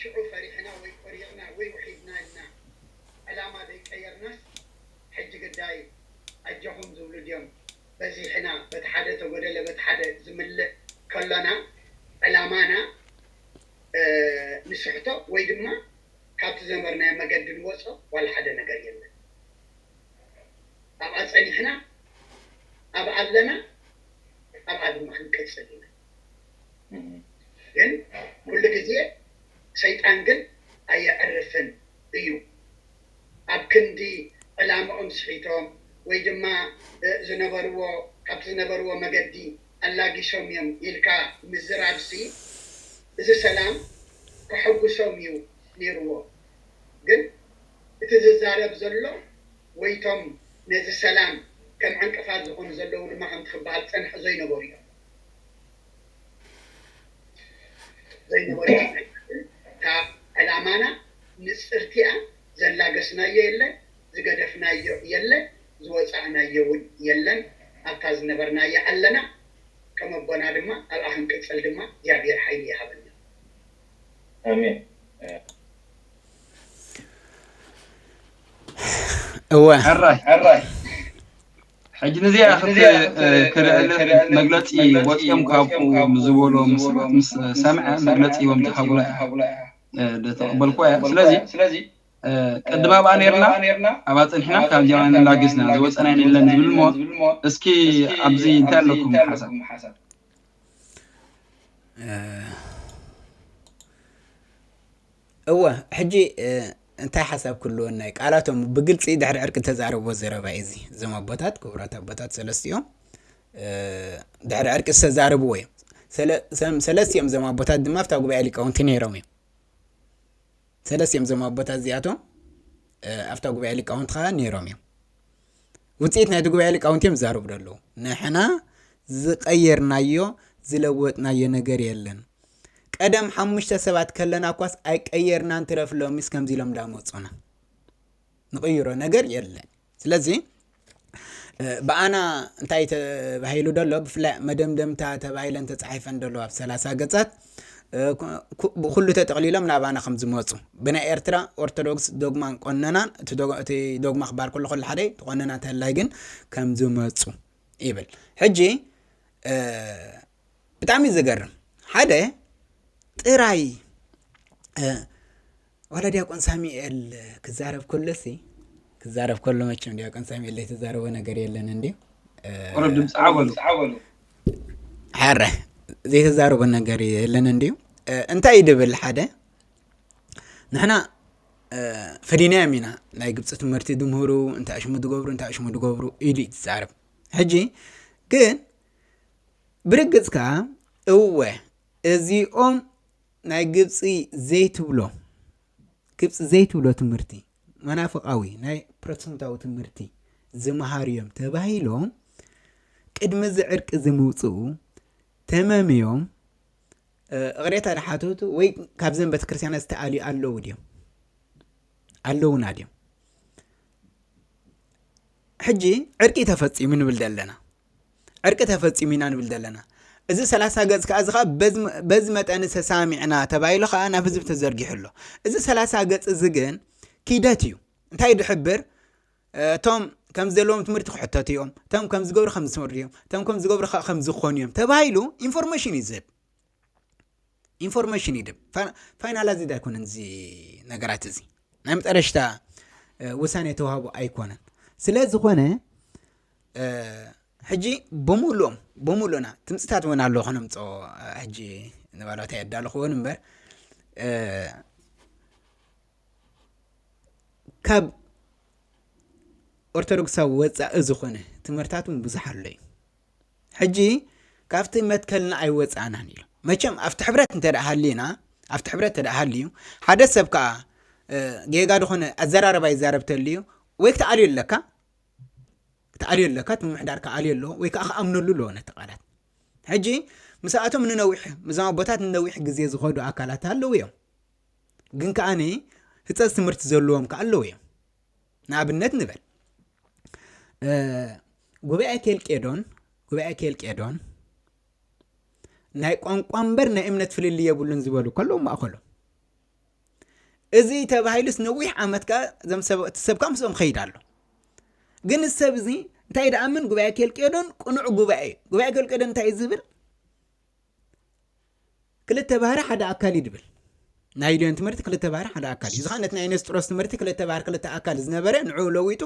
ሽዑ ፈሪሕና ወይ ቆሪቕና ወይ ውሒድና ኢልና ዕላማ ዘይቀየርናስ ሕጂ ግዳይ ኣጆኹም ዝብሉ ድዮም በዚሕና በቲ ሓደ ተጎደለ በቲ ሓደ ዝምልእ ከሎና ዕላማና ንስሕቶ ወይ ድማ ካብቲ ዝነበርናዮ መገዲ ንወጾ ዋላ ሓደ ነገር የለን ኣብኣ ጸኒሕና ኣብኣ ኣለና ኣብኣ ድማ ክንቅጽል ኢና። ግን ኩሉ ግዜ ሰይጣን ግን ኣየዕርፍን እዩ ኣብ ክንዲ ዕላምኦም ስሒቶም ወይ ድማ ዝነበርዎ ካብቲ ዝነበርዎ መገዲ ኣላጊሶም እዮም ኢልካ ምዝራብሲ እዚ ሰላም ከሐጉሶም እዩ ኔርዎ ግን እቲ ዝዛረብ ዘሎ ወይ እቶም ነዚ ሰላም ከም ዕንቅፋት ዝኾኑ ዘለዉ ድማ ከምቲ ክበሃል ዝጸንሐ ዘይነበሩ እዮም። ዘይነበሮ ኣይኮነን ካብ ዕላማና ንጽርቲኣ ዘላገስናዮ የለ ዝገደፍናዮ የለ ዝወጻእናዮ ውን የለን ኣብታ ዝነበርናያ ኣለና ከም ኣቦና ድማ ኣብኣ ክንቅጽል ድማ እግዚኣብሄር ሓይሊ ይሃበና ኣሜን። እወ። ሕራይ። ሕጂ ንዚኣ ክርዕልን መግለጺ ወጺኦም ካብኡ ምዝበሎ ምስባት ምስ ሰምዐ መግለጺ ሂቦም ዝሃቡላ እያ ተቐበልኩዋ እያ ስለዚ ቅድም ኣብኣ ነርና ኣብኣ ጽኒሕና ካብ ጀርመን ንላጊስና ዝወጸና የለን ዝብል እሞ እስኪ ኣብዚ እንታይ ኣለኩም ሓሳብ እወ ሕጂ እንታይ ሓሳብ ክህልወና እዩ ቃላቶም ብግልፂ ድሕሪ ዕርቂ ተዛረቦ ዘረባ እዩ እዚ እዞም ኣቦታት ክቡራት ኣቦታት ሰለስቲኦም ድሕሪ ዕርቂ ዝተዛረብዎ እዮም ሰለስቲኦም እዞም ኣቦታት ድማ ኣብታ ጉባኤ ሊቃውንቲ ነይሮም እዮም ሰለስቲኦም እዞም ኣቦታት እዚኣቶም ኣብታ ጉባኤ ሊቃውንቲ ከዓ ነይሮም እዮም ውፅኢት ናይቲ ጉባኤ ሊቃውንቲ እዮም ዝዛረቡ ዘለዉ ንሕና ዝቀየርናዮ ዝለወጥናዮ ነገር የለን ቀደም ሓሙሽተ ሰባት ከለና እኳስ ኣይቀየርናን ትረፍ ሎሚስ ከምዚ ኢሎም እንዳመፁና ንቅይሮ ነገር የለን ስለዚ ብኣና እንታይ ተባሂሉ ደሎ ብፍላይ መደምደምታ ተባሂለን ተፃሒፈን ደሎ ኣብ ሰላሳ ገፃት ብኹሉ ተጠቕሊሎም ናባና ከም ዝመፁ ብናይ ኤርትራ ኦርቶዶክስ ዶግማን ቆነናን እቲ ዶግማ ክበሃል ከሎ ከሉ ሓደ እቲ ቆነና እንተላይ ግን ከም ዝመፁ ይብል ሕጂ ብጣዕሚ ዝገርም ሓደ ጥራይ ዋላ ዲያቆን ሳሚኤል ክዛረብ ከሎ ሲ ክዛረብ ከሎ መቸም ዲያቆን ሳሚኤል ዘይተዛረቦ ነገር የለን እንዲዩ ቁሩብ ድምፂ ዓበሉ ሓረ ዘይተዛረቦ ነገር የለን እንዲዩ እንታይ እዩ ድብል ሓደ ንሕና ፈዲናዮም ኢና ናይ ግብፂ ትምህርቲ ድምህሩ እንታይ ሽሙ ድገብሩ እንታይ ሽሙ ድገብሩ ኢሉ እዩ ዝዛረብ ሕጂ ግን ብርግፅ ከዓ እወ እዚኦም ናይ ግብጺ ዘይትብሎ ግብጺ ዘይትብሎ ትምህርቲ መናፍቃዊ ናይ ፕሮቴስታንታዊ ትምህርቲ ዝመሃሩ እዮም ተባሂሎም ቅድሚ እዚ ዕርቂ እዚ ምውፅኡ ተመምዮም እቕሬታ ድሓተቱ ወይ ካብዘን ቤተክርስትያናት ዝተኣልዩ ኣለዉ ድዮም ኣለውና ድዮም ሕጂ ዕርቂ ተፈፂሙ ንብል ዘለና ዕርቂ ተፈጺሙ ኢና ንብል ዘለና። እዚ ሰላሳ ገጽ ከኣ እዚ ከኣ በዚ መጠን ተሳሚዕና ተባሂሉ ከኣ ናብ ህዝቢ ተዘርጊሑ ኣሎ። እዚ ሰላሳ ገጽ እዚ ግን ኪደት እዩ። እንታይ እዩ ዝሕብር? እቶም ከም ዘለዎም ትምህርቲ ክሕተቱ እዮም፣ እቶም ከም ዝገብሩ ከም ዝስምሩ እዮም፣ እቶም ከም ዝገብሩ ከ ከም ዝኾኑ እዮም ተባሂሉ ኢንፎርሜሽን እዩ ዝህብ። ኢንፎርሜሽን ይድብ ፋይናላይዝድ ኣይኮነን እዚ ነገራት እዚ ናይ መጠረሽታ ውሳኔ ተዋህቡ ኣይኮነን ስለ ዝኾነ ሕጂ ብምሉኦም ብምሉእና ትምፅታት እውን ኣሎ ከነምፆ ሕጂ ንባላታ የዳለኽዎን እምበር ካብ ኦርቶዶክሳዊ ወፃኢ ዝኾነ ትምህርታት እውን ብዙሕ ኣሎ እዩ ሕጂ ካብቲ መትከልና ኣይወጻእናን ኢሉ መቸም ኣብቲ ሕብረት እንተ ሃልዩና ኣብቲ ሕብረት እንተ ሃልዩ ሓደ ሰብ ከዓ ጌጋ ዝኾነ ኣዘራረባ ይዛረብ ተልዩ ወይ ክትኣልዮ ኣለካ ክትኣልዮ ኣለካ እቲ ምምሕዳር ክኣልዮ ኣለዎ ወይ ከዓ ክኣምነሉ ኣለዎ ነቲ ቃላት ሕጂ ምስኣቶም ንነዊሕ ምስዞም ኣቦታት ንነዊሕ ግዜ ዝኸዱ ኣካላት ኣለዉ እዮም ግን ከዓኒ ህፀፅ ትምህርቲ ዘለዎም ከዓ ኣለዉ እዮም ንኣብነት ንበል ጉባኤ ኬልቄዶን ጉባኤ ኬልቄዶን ናይ ቋንቋ እምበር ናይ እምነት ፍልል የብሉን ዝበሉ ከለዉ ማእኸሎም እዚ ተባሂሉስ ነዊሕ ዓመት ከ እዞም ሰበቲ ሰብ ከ ምስኦም ኸይድ ኣሎ ግን ሰብ እዚ እንታይ ደኣምን ጉባኤ ኬልቄዶን ቅኑዕ ጉባኤ ጉባኤ ኬልቄዶን እንታይ ዝብል ክልተ ባህሪ ሓደ ኣካል እዩ ድብል ናይ ሊዮን ትምህርቲ ክልተ ባህሪ ሓደ ኣካል እዩ እዚ ነቲ ናይ ነስጥሮስ ትምህርቲ ክልተ ባህሪ ክልተ ኣካል ዝነበረ ንዑ ለዊጡ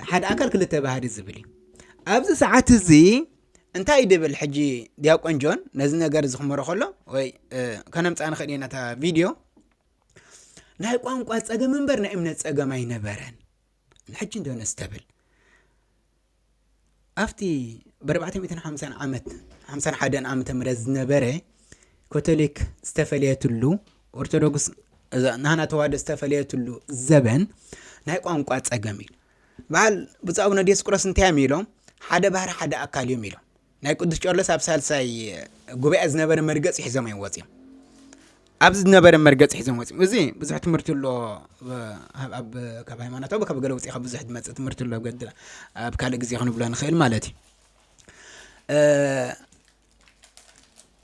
ሓደ ኣካል ክልተ ባህሪ ዝብል እዩ ኣብዚ ሰዓት እዚ እንታይ እዩ ድብል ሕጂ ዲያቆን ጆን ነዚ ነገር እዚ ክመሮ ከሎ ወይ ከነምፃእ ንኽእል ኢና እታ ቪድዮ ናይ ቋንቋ ፀገም እምበር ናይ እምነት ፀገም ኣይነበረን ሕጂ እንዶ ነስተብል ኣብቲ ብኣርባዕተ ሚእትን ሓምሳን ዓመት ሓምሳን ሓደን ዓመተ ምህረት ዝነበረ ኮቶሊክ ዝተፈለየትሉ ኦርቶዶክስ እዛ ናህና ተዋህዶ ዝተፈለየትሉ ዘበን ናይ ቋንቋ ጸገም እዩ በዓል ብፁዕ ኣቡነ ዲዮስቆሮስ እንታይ እዮም ኢሎም ሓደ ባህሪ ሓደ ኣካል እዮም ኢሎም ናይ ቅዱስ ቄርሎስ ኣብ ሳልሳይ ጉባኤ ዝነበረ መርገፂ ሒዞም እዮም ወፂኦም ኣብዚ ዝነበረ መርገፂ ሒዞም ወፂኦም እዚ ብዙሕ ትምህርቲ ኣሎ ኣብ ካብ ሃይማኖታዊ ካብ ገለ ውፅኢካ ብዙሕ ዝመፅእ ትምህርቲ ኣሎ ገድ ኣብ ካልእ ግዜ ክንብሎ ንኽእል ማለት እዩ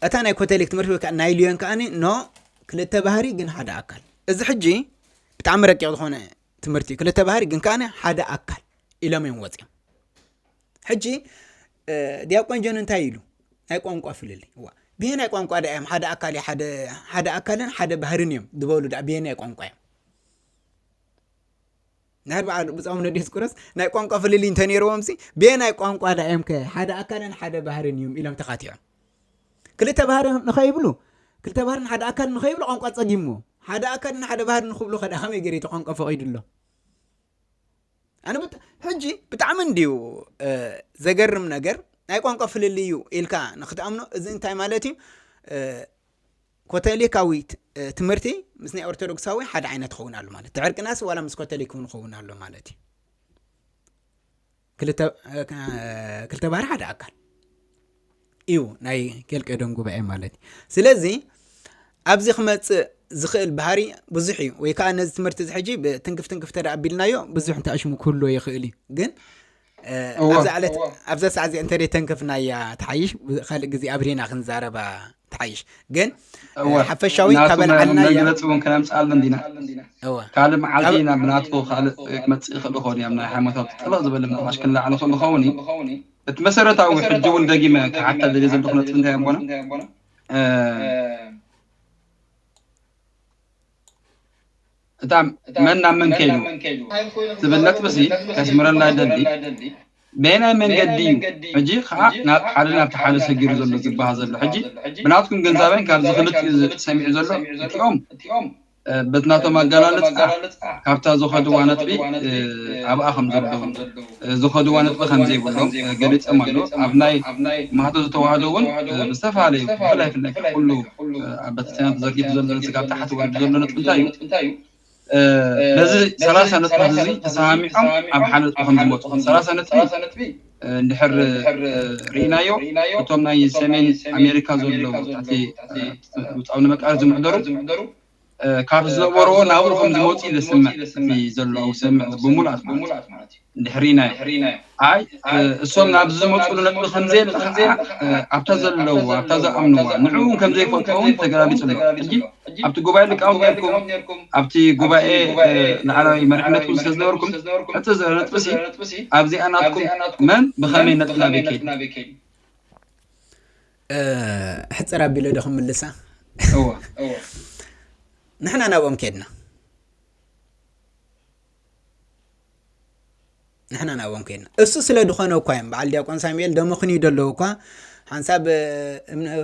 እታ ናይ ኮተሊክ ትምህርቲ ወይ ከዓ ናይ ልዮን ከዓ ኖ ክልተ ባህሪ ግን ሓደ ኣካል እዚ ሕጂ ብጣዕሚ ረቂቕ ዝኾነ ትምህርቲ ክልተ ባህሪ ግን ከዓ ሓደ ኣካል ኢሎም እዮም ወፂኦም ሕጂ ዲያቆን ጆን እንታይ ኢሉ ናይ ቋንቋ ፍልልይ ዋ ብሄናይ ቋንቋ ዳ እዮም ሓደ ኣካል ሓደ ኣካልን ሓደ ባህርን እዮም ዝበሉ ዳ ብሄናይ ቋንቋ እዮም ናይ በዓል ብፃም ነዴስ ቁረስ ናይ ቋንቋ ፍልልይ እንተነይርዎም ሲ ብሄናይ ቋንቋ ዳ እዮም ከ ሓደ ኣካልን ሓደ ባህርን እዮም ኢሎም ተኻቲዖም ክልተ ባህሪ ንኸይብሉ ክልተ ባህርን ሓደ ኣካል ንኸይብሉ ቋንቋ ፀጊምዎ ሓደ ኣካልን ሓደ ባህር ንክብሉ ከዳ ከመይ ገይሩ እቲ ቋንቋ ፈቂዱ ኣሎ ኣነ ብት- ሕጂ ብጣዕሚ እንድዩ እ፣ ዘገርም ነገር ናይ ቋንቋ ፍልልይ እዩ ኢልካ ንክትኣምኖ እዚ እንታይ ማለት እዩ እ፣ ኮቶሊካዊ ት- እ፣ ትምህርቲ ምስ ናይ ኦርቶዶክሳዊ ሓደ ዓይነት ክኸውን ኣሎ ማለት እቲ ዕርቅናስ ዋላ ምስ ኮቶሊክ እውን ክኸውን ኣሎ ማለት እዩ ክልተ ባህሪ ሓደ ኣካል እዩ ናይ ኬልቄዶን ጉባኤ ማለት እዩ ስለዚ ኣብዚ ክመፅእ ዝኽእል ባህሪ ብዙሕ እዩ ወይ ከዓ ነዚ ትምህርቲ እዚ ሕጂ ብትንክፍ ትንክፍ ተደ ኣቢልናዮ ብዙሕ እንተኣሽሙ ክህልዎ ይኽእል እዩ ግን ኣብዛ ዕለት ኣብዛ ሰዓት እዚ እንተደይ ተንክፍናያ ተሓይሽ ካልእ ግዜ ኣብሪና ክንዛረባ ትሓይሽ ግን ሓፈሻዊ ካበልዓልና መግለፂ እውን ከነምፅኣሉ እንዲና ካልእ መዓልቲ ኢና ብናቱ ካልእ ክመፅእ ይኽእል ይኸውን እዮም ናይ ሃይማኖታዊ ጠጠሎ ዝበለ ምናልባሽ ክለዓል ይኽእል ይኸውን እዩ እቲ መሰረታዊ ሕጂ እውን ደጊመ ክሓታ ደልየ ዘለኹ ነጥቢ እንታይ ኣቦና እታ መን ናብ መን ከይዱ ትብል ነጥቢሲ ከስምረላ ይደሊ። በየናይ መንገዲ እዩ ሕጂ ከኣ ናብ ሓደ ናብቲ ሓደ ሰጊሩ ዘሎ ዝበሃ ዘሎ? ሕጂ ብናትኩም ግንዛበን ካብዚ ክልቲኡ ሰሚዑ ዘሎ እቲኦም በቲ ናቶም ኣገላልጻ ካብታ ዝኸድዋ ነጥቢ ኣብኣ ከም ዘለዉ። ዝኸድዋ ነጥቢ ከምዘይብሉ ገሊጾም ኣለው። ኣብ ናይ ማህቶተ ተዋህዶ እውን ብዝተፈላለዩ ብፍላይ ፍላይ ካብ ኩሉ ኣብ ቤተክርስትያናት ተዘርጊሑ ዘሎ ነዚ ካብ ታሕቲ ወሪዱ ዘሎ ነጥቢ እንታይ እዩ በዚ ሰላሳ ነጥብታት እዚ ተሰማሚዖም ኣብ ሓደ ነጥቢ ከምዝመፁ ሰላሳ ነጥቢ እንድሕር ርኢናዮ እቶም ናይ ሰሜን ኣሜሪካ ዘለዉ ትሕቲ ውፃዊ ንመቃረት ዝምሕደሩ ካብ ዝነበርዎ ናብኡ ከም ዝመጹ እዩ ዘስምዕ እቲ ዘሎ ኣውሰምዕ ብምሉኣት ማለት እዩ እንድሕሪናዮ ኣይ እሶም ናብዚ ዝመጹሉ ነጥቢ ከም ዘየለ ከኣ ኣብታ ዘለዋ ኣብታ ዝኣምንዋ ንዕኡ እውን ከም ዘይፈልጦ እውን ተገላቢጡ ኣሎ ሕጂ ኣብቲ ጉባኤ ሊቃውንት ነርኩም ኣብቲ ጉባኤ ላዕላዊ መሪሕነት እውን ስለ ዝነበርኩም ሕቶ ዘሎ ነጥቢሲ ኣብዚኣ ናትኩም መን ብኸመይ ነጥቢ ናበይ ከይዱ ሕፅር ኣቢለ ዶ ክምልሳ ንሕና ናብኦም ከድና ንሕና ናብኦም ከድና እሱ ስለ ድኾነ እኳ እዮም በዓል ዲያቆን ሳሙኤል ደመኽንዩ ደለዉ እኳ ሓንሳብ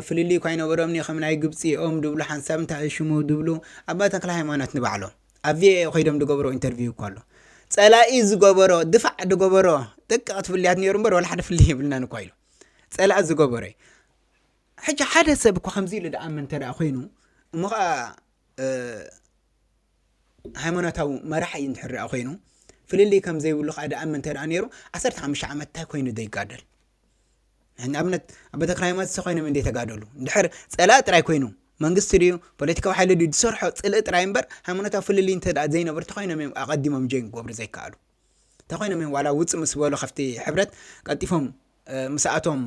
ፍልልይ እኳ ይነበሮምኒ ከም ናይ ግብፂ ኦም ድብሉ ሓንሳብ እንታይ ሽሙ ድብሉ ኣባ ተክለ ሃይማኖት ንባዕሎም ኣብ ቪኦኤ ኮይዶም ድገብሮ ኢንተርቪው እኳ ኣሎ ፀላኢ ዝገበሮ ድፋዕ ድገበሮ ደቂ ክትፍልያት ነይሩ እምበር ወላ ሓደ ፍልይ የብልናን እኳ ኢሎም ጸላኢ ዝገበሮ እዩ ሕጂ ሓደ ሰብ እኳ ከምዚ ኢሉ ድኣምን እንተ ኮይኑ እሞ ከዓ ሃይማኖታዊ መራሒ እዩ እንድሕር ድኣ ኮይኑ ፍልልይ ከም ዘይብሉ ከዓ ድኣምን እንተ ነይሩ ዓሰርተ ሓሙሽተ ዓመት እንታይ ኮይኑ ዘይጋደል ንኣብነት ኣብ ቤተ ክራይማት ኮይኖም እንደ ተጋደሉ እንድሕር ፀላእ ጥራይ ኮይኑ መንግስቲ ድዩ ፖለቲካዊ ሓይሊ ድዩ ዝሰርሖ ፅልኢ ጥራይ እምበር ሃይማኖታዊ ፍልልይ እንተ ዘይነበርቲ ኮይኖም እዮም ኣቐዲሞም ጆይን ክገብሩ ዘይከኣሉ እንተኾይኖም እዮም ዋላ ውጽእ ምስ በሉ ካብቲ ሕብረት ቀልጢፎም ምስኣቶም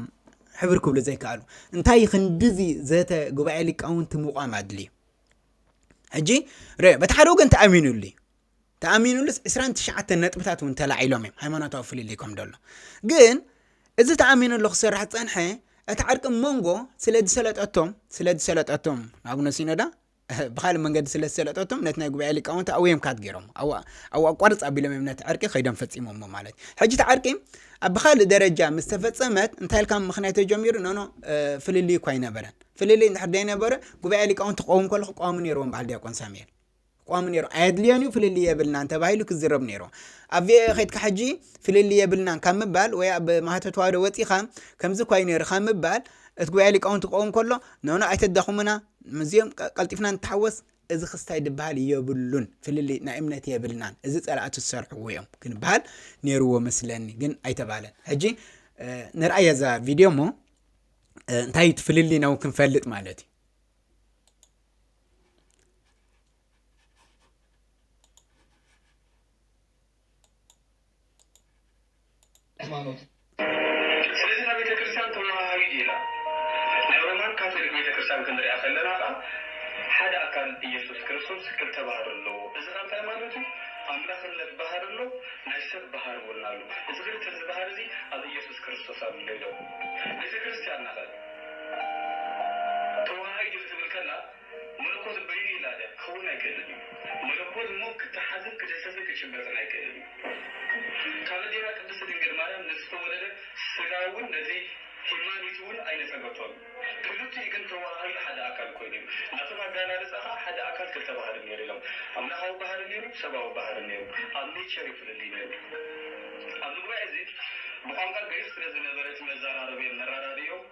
ሕብር ክብሉ ዘይከኣሉ እንታይ እዩ ክንድዚ ዘተ ጉባኤ ሊቃውንቲ ምቋም ኣድልዩ ሕጂ ርኦ በቲ ሓደ ወገን ተኣሚኑሉ እዩ ተኣሚኑሉስ 29 ነጥብታት እውን ተላዒሎም እዮም ሃይማኖታዊ ፍልልይ ከም ደሎ ግን እዚ ተኣሚኑሉ ክስራሕ ፀንሐ እቲ ዓርቂ መንጎ ስለ ዝሰለጠቶም ስለ ዝሰለጠቶም ኣቡነ ሲኖዳ ብኻልእ መንገዲ ስለ ዝሰለጠቶም ነቲ ናይ ጉባኤ ሊቃውንቲ ኣብኡ እዮም ካት ገይሮም ኣብኡ ኣቋርፅ ኣቢሎም እዮም ነቲ ዕርቂ ከይዶም ፈፂሞሞ ማለት እዩ ሕጂ እቲ ዕርቂ ኣብ ብኻልእ ደረጃ ምስ ተፈፀመት እንታይ ኢልካ ምክንያት ተጀሚሩ ኖኖ ፍልልይ እኳ ኣይነበረን ፍልልይ እንድሕር ዘይነበረ ጉባኤ ሊቃውንቲ ክኸውን ከለኩ ቋሚ ነይርዎም በዓል ዲያቆን ሳሙኤል ቋሚ ነይሩ ኣየድልዮን እዩ ፍልልይ የብልናን ተባሂሉ ክዝረብ ነይሩ ኣብ ቪኦኤ ከይድካ ሕጂ ፍልልይ የብልናን ካብ ምባል ወይ ኣብ ማህተ ተዋህዶ ወፂኻ ከምዚ እኳ እዩ ነይሩ ካብ ምባል እቲ ጉባኤ ሊቃውንቲ ክኸውን ከሎ ኖኖ ኣይተዳኹምና ምስዚኦም ቀልጢፍና ንተሓወስ እዚ ክስታይ ድበሃል የብሉን ፍልልይ ናይ እምነት የብልናን እዚ ጸላእቱ ዝሰርሕዎ እዮም ክንበሃል ነይርዎ መስለኒ ግን ኣይተባህለን ሕጂ ንርኣያ እዛ ቪድዮ እሞ እንታይ እዩ ፍልልይና እውን ክንፈልጥ ማለት እዩ ሃይማኖት ስለዚ እታ ቤተ ክርስቲያን ተወሃሃቢት እያ ኢላ ናይ ሮማን ካቶሊክ ቤተ ክርስቲያን ክንሪኣ ከለና ከኣ ሓደ ኣካል እየሱስ ክርስቶስ ክልተ ባህሪ ኣለዎ እዚ ከኣ እንታይ ማለት እዩ ኣምላኽነት ባህሪ ኣሎ ናይ ሰብ ባህሪ እውን ኣሎ እዚ ክልተ እዚ ባህሪ እዚ ኣብ እየሱስ ክርስቶስ ኣሎ ኢሎም ቤተ ክርስቲያንና ከ ተወሃሂድ እዩ ክትብል ከላ መለኮት በይኑ ይላለ ክኸውን ኣይክእልን እዩ። መለኮት እሞ ክተሓዝን ክድህሰስን ክጭበጥን ኣይክእልን እዩ። ካብ እዴና ቅድስት ድንግል ማርያም ንዝተወለደ ሥጋ እውን ነቲ ሂማኒቲ እውን ኣይነጸገቶን። ክልቲኡ ግን ተወሃሂዱ ሓደ ኣካል ኮይኑ እዩ። ናቶም ኣገላልጻ ከኣ ሓደ ኣካል ክልተ ባህሪ ነይሩ ኢሎም። ኣምላካዊ ባህሪ ነይሩ፣ ሰባዊ ባህሪ ነይሩ። ኣብ ኔቸር እዩ ፍልልይ ነይሩ። ኣብዚ ጉባኤ እዚ ብቋንቋ ግሪኽ ስለ ዝነበረ እቲ መዘራረቢኦም መረዳድኢኦም፣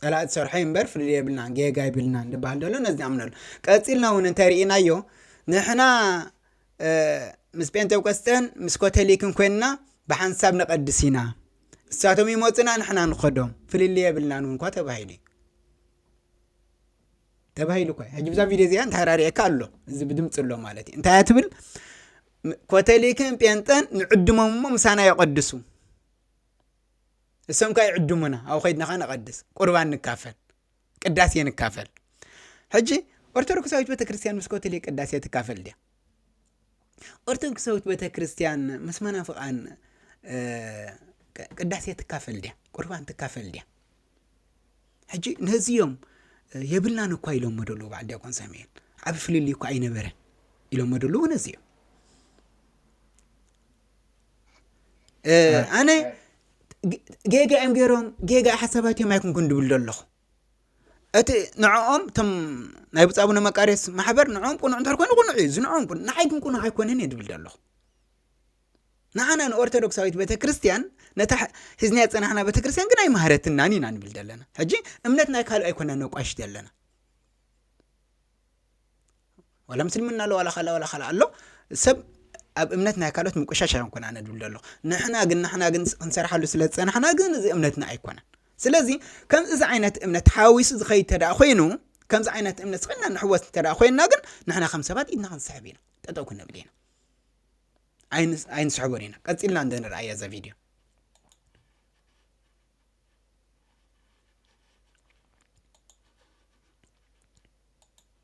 ጸላእቲ ሰርሖ እዩ እምበር ፍልልይ የብልናን ጌጋ ኣይብልናን ድበሃል ደሎ ነዚ ኣምነሉ ቀጺልና እውን እንተርኢናዮ ንሕና ምስ ጴንጤቆስጠን ምስ ኮተሊክን ኮይንና ብሓንሳብ ነቐድስ ኢና እሳቶም ይመፁና ንሕና ንኸዶም ፍልልይ የብልናን እውን እኳ ተባሂሉ እዩ ተባሂሉ እኳ ሕጂ ብዛ ቪድዮ እዚኣ እንታይ ራሪኤካ ኣሎ እዚ ብድምፂ ኣሎ ማለት እዩ እንታይ ትብል ኮተሊክን ጴንጠን ንዕድሞም እሞ ምሳና የቐድሱ እሶም ከኣ ይዕድሙና ኣብኡ ከድና ከኣ ንቀድስ ቁርባን ንካፈል ቅዳሴ ንካፈል ሕጂ ኦርቶዶክሳዊት ቤተ ክርስትያን ምስ ኮቶሊክ ቅዳሴ ትካፈል ድያ ኦርቶዶክሳዊት ቤተ ክርስትያን ምስ መናፍቃን ቅዳሴ ትካፈል ድያ ቁርባን ትካፈል ድያ ሕጂ ነዚኦም የብልናን እኳ ኢሎሞ ደለዉ በዓል ዲያቆን ሳሙኤል ዓብ ፍልልይ እኳ ኣይነበረን ኢሎሞ ደለዉ ነዚኦም ኣነ ጌጋ እዮም ገይሮም ጌጋ ሓሳባት እዮም ኣይኩንኩን ድብል ዶ ኣለኹ እቲ ንዕኦም እቶም ናይ ብፃቡነ መቃርዮስ ማሕበር ንዕኦም ቁኑዕ እንተ ኮይኑ ቁኑዕ እዩ ዝንዕኦም ቁኑዕ ንዓይ ግን ቁኑዕ ኣይኮነን እየ ድብል ዶ ኣለኹ ንዓና ንኦርቶዶክሳዊት ቤተ ክርስትያን ነታ ሒዝና ዝፀናሕና ቤተ ክርስትያን ግን ኣይመሃረትናን ኢና ንብል ዘለና ሕጂ እምነት ናይ ካልእ ኣይኮና ነቋሽት ኣለና ዋላ ምስልምና ኣሎ ዋላ ካልኣ ዋላ ካልኣ ኣሎ ሰብ ኣብ እምነት ናይ ካልኦት ምቁሻሽ ኣይኮንኩን ኣነ ድብል ደሎ ንሕና ግን ንሕና ግን ክንሰርሓሉ ስለ ዝፀናሕና ግን እዚ እምነትና ኣይኮነን ስለዚ ከምዚ እዚ ዓይነት እምነት ሓዊሱ ዝኸይድ ተዳ ኮይኑ ከምዚ ዓይነት እምነት ስኸና ንሕወስ ተዳ ኮይንና ግን ንሕና ከም ሰባት ኢድና ክንስሕብ ኢና ጠጠው ክንብል ኢና ኣይንስሕቦን ኢና ቀፂልና እንደንርኣያ እዛ ቪድዮ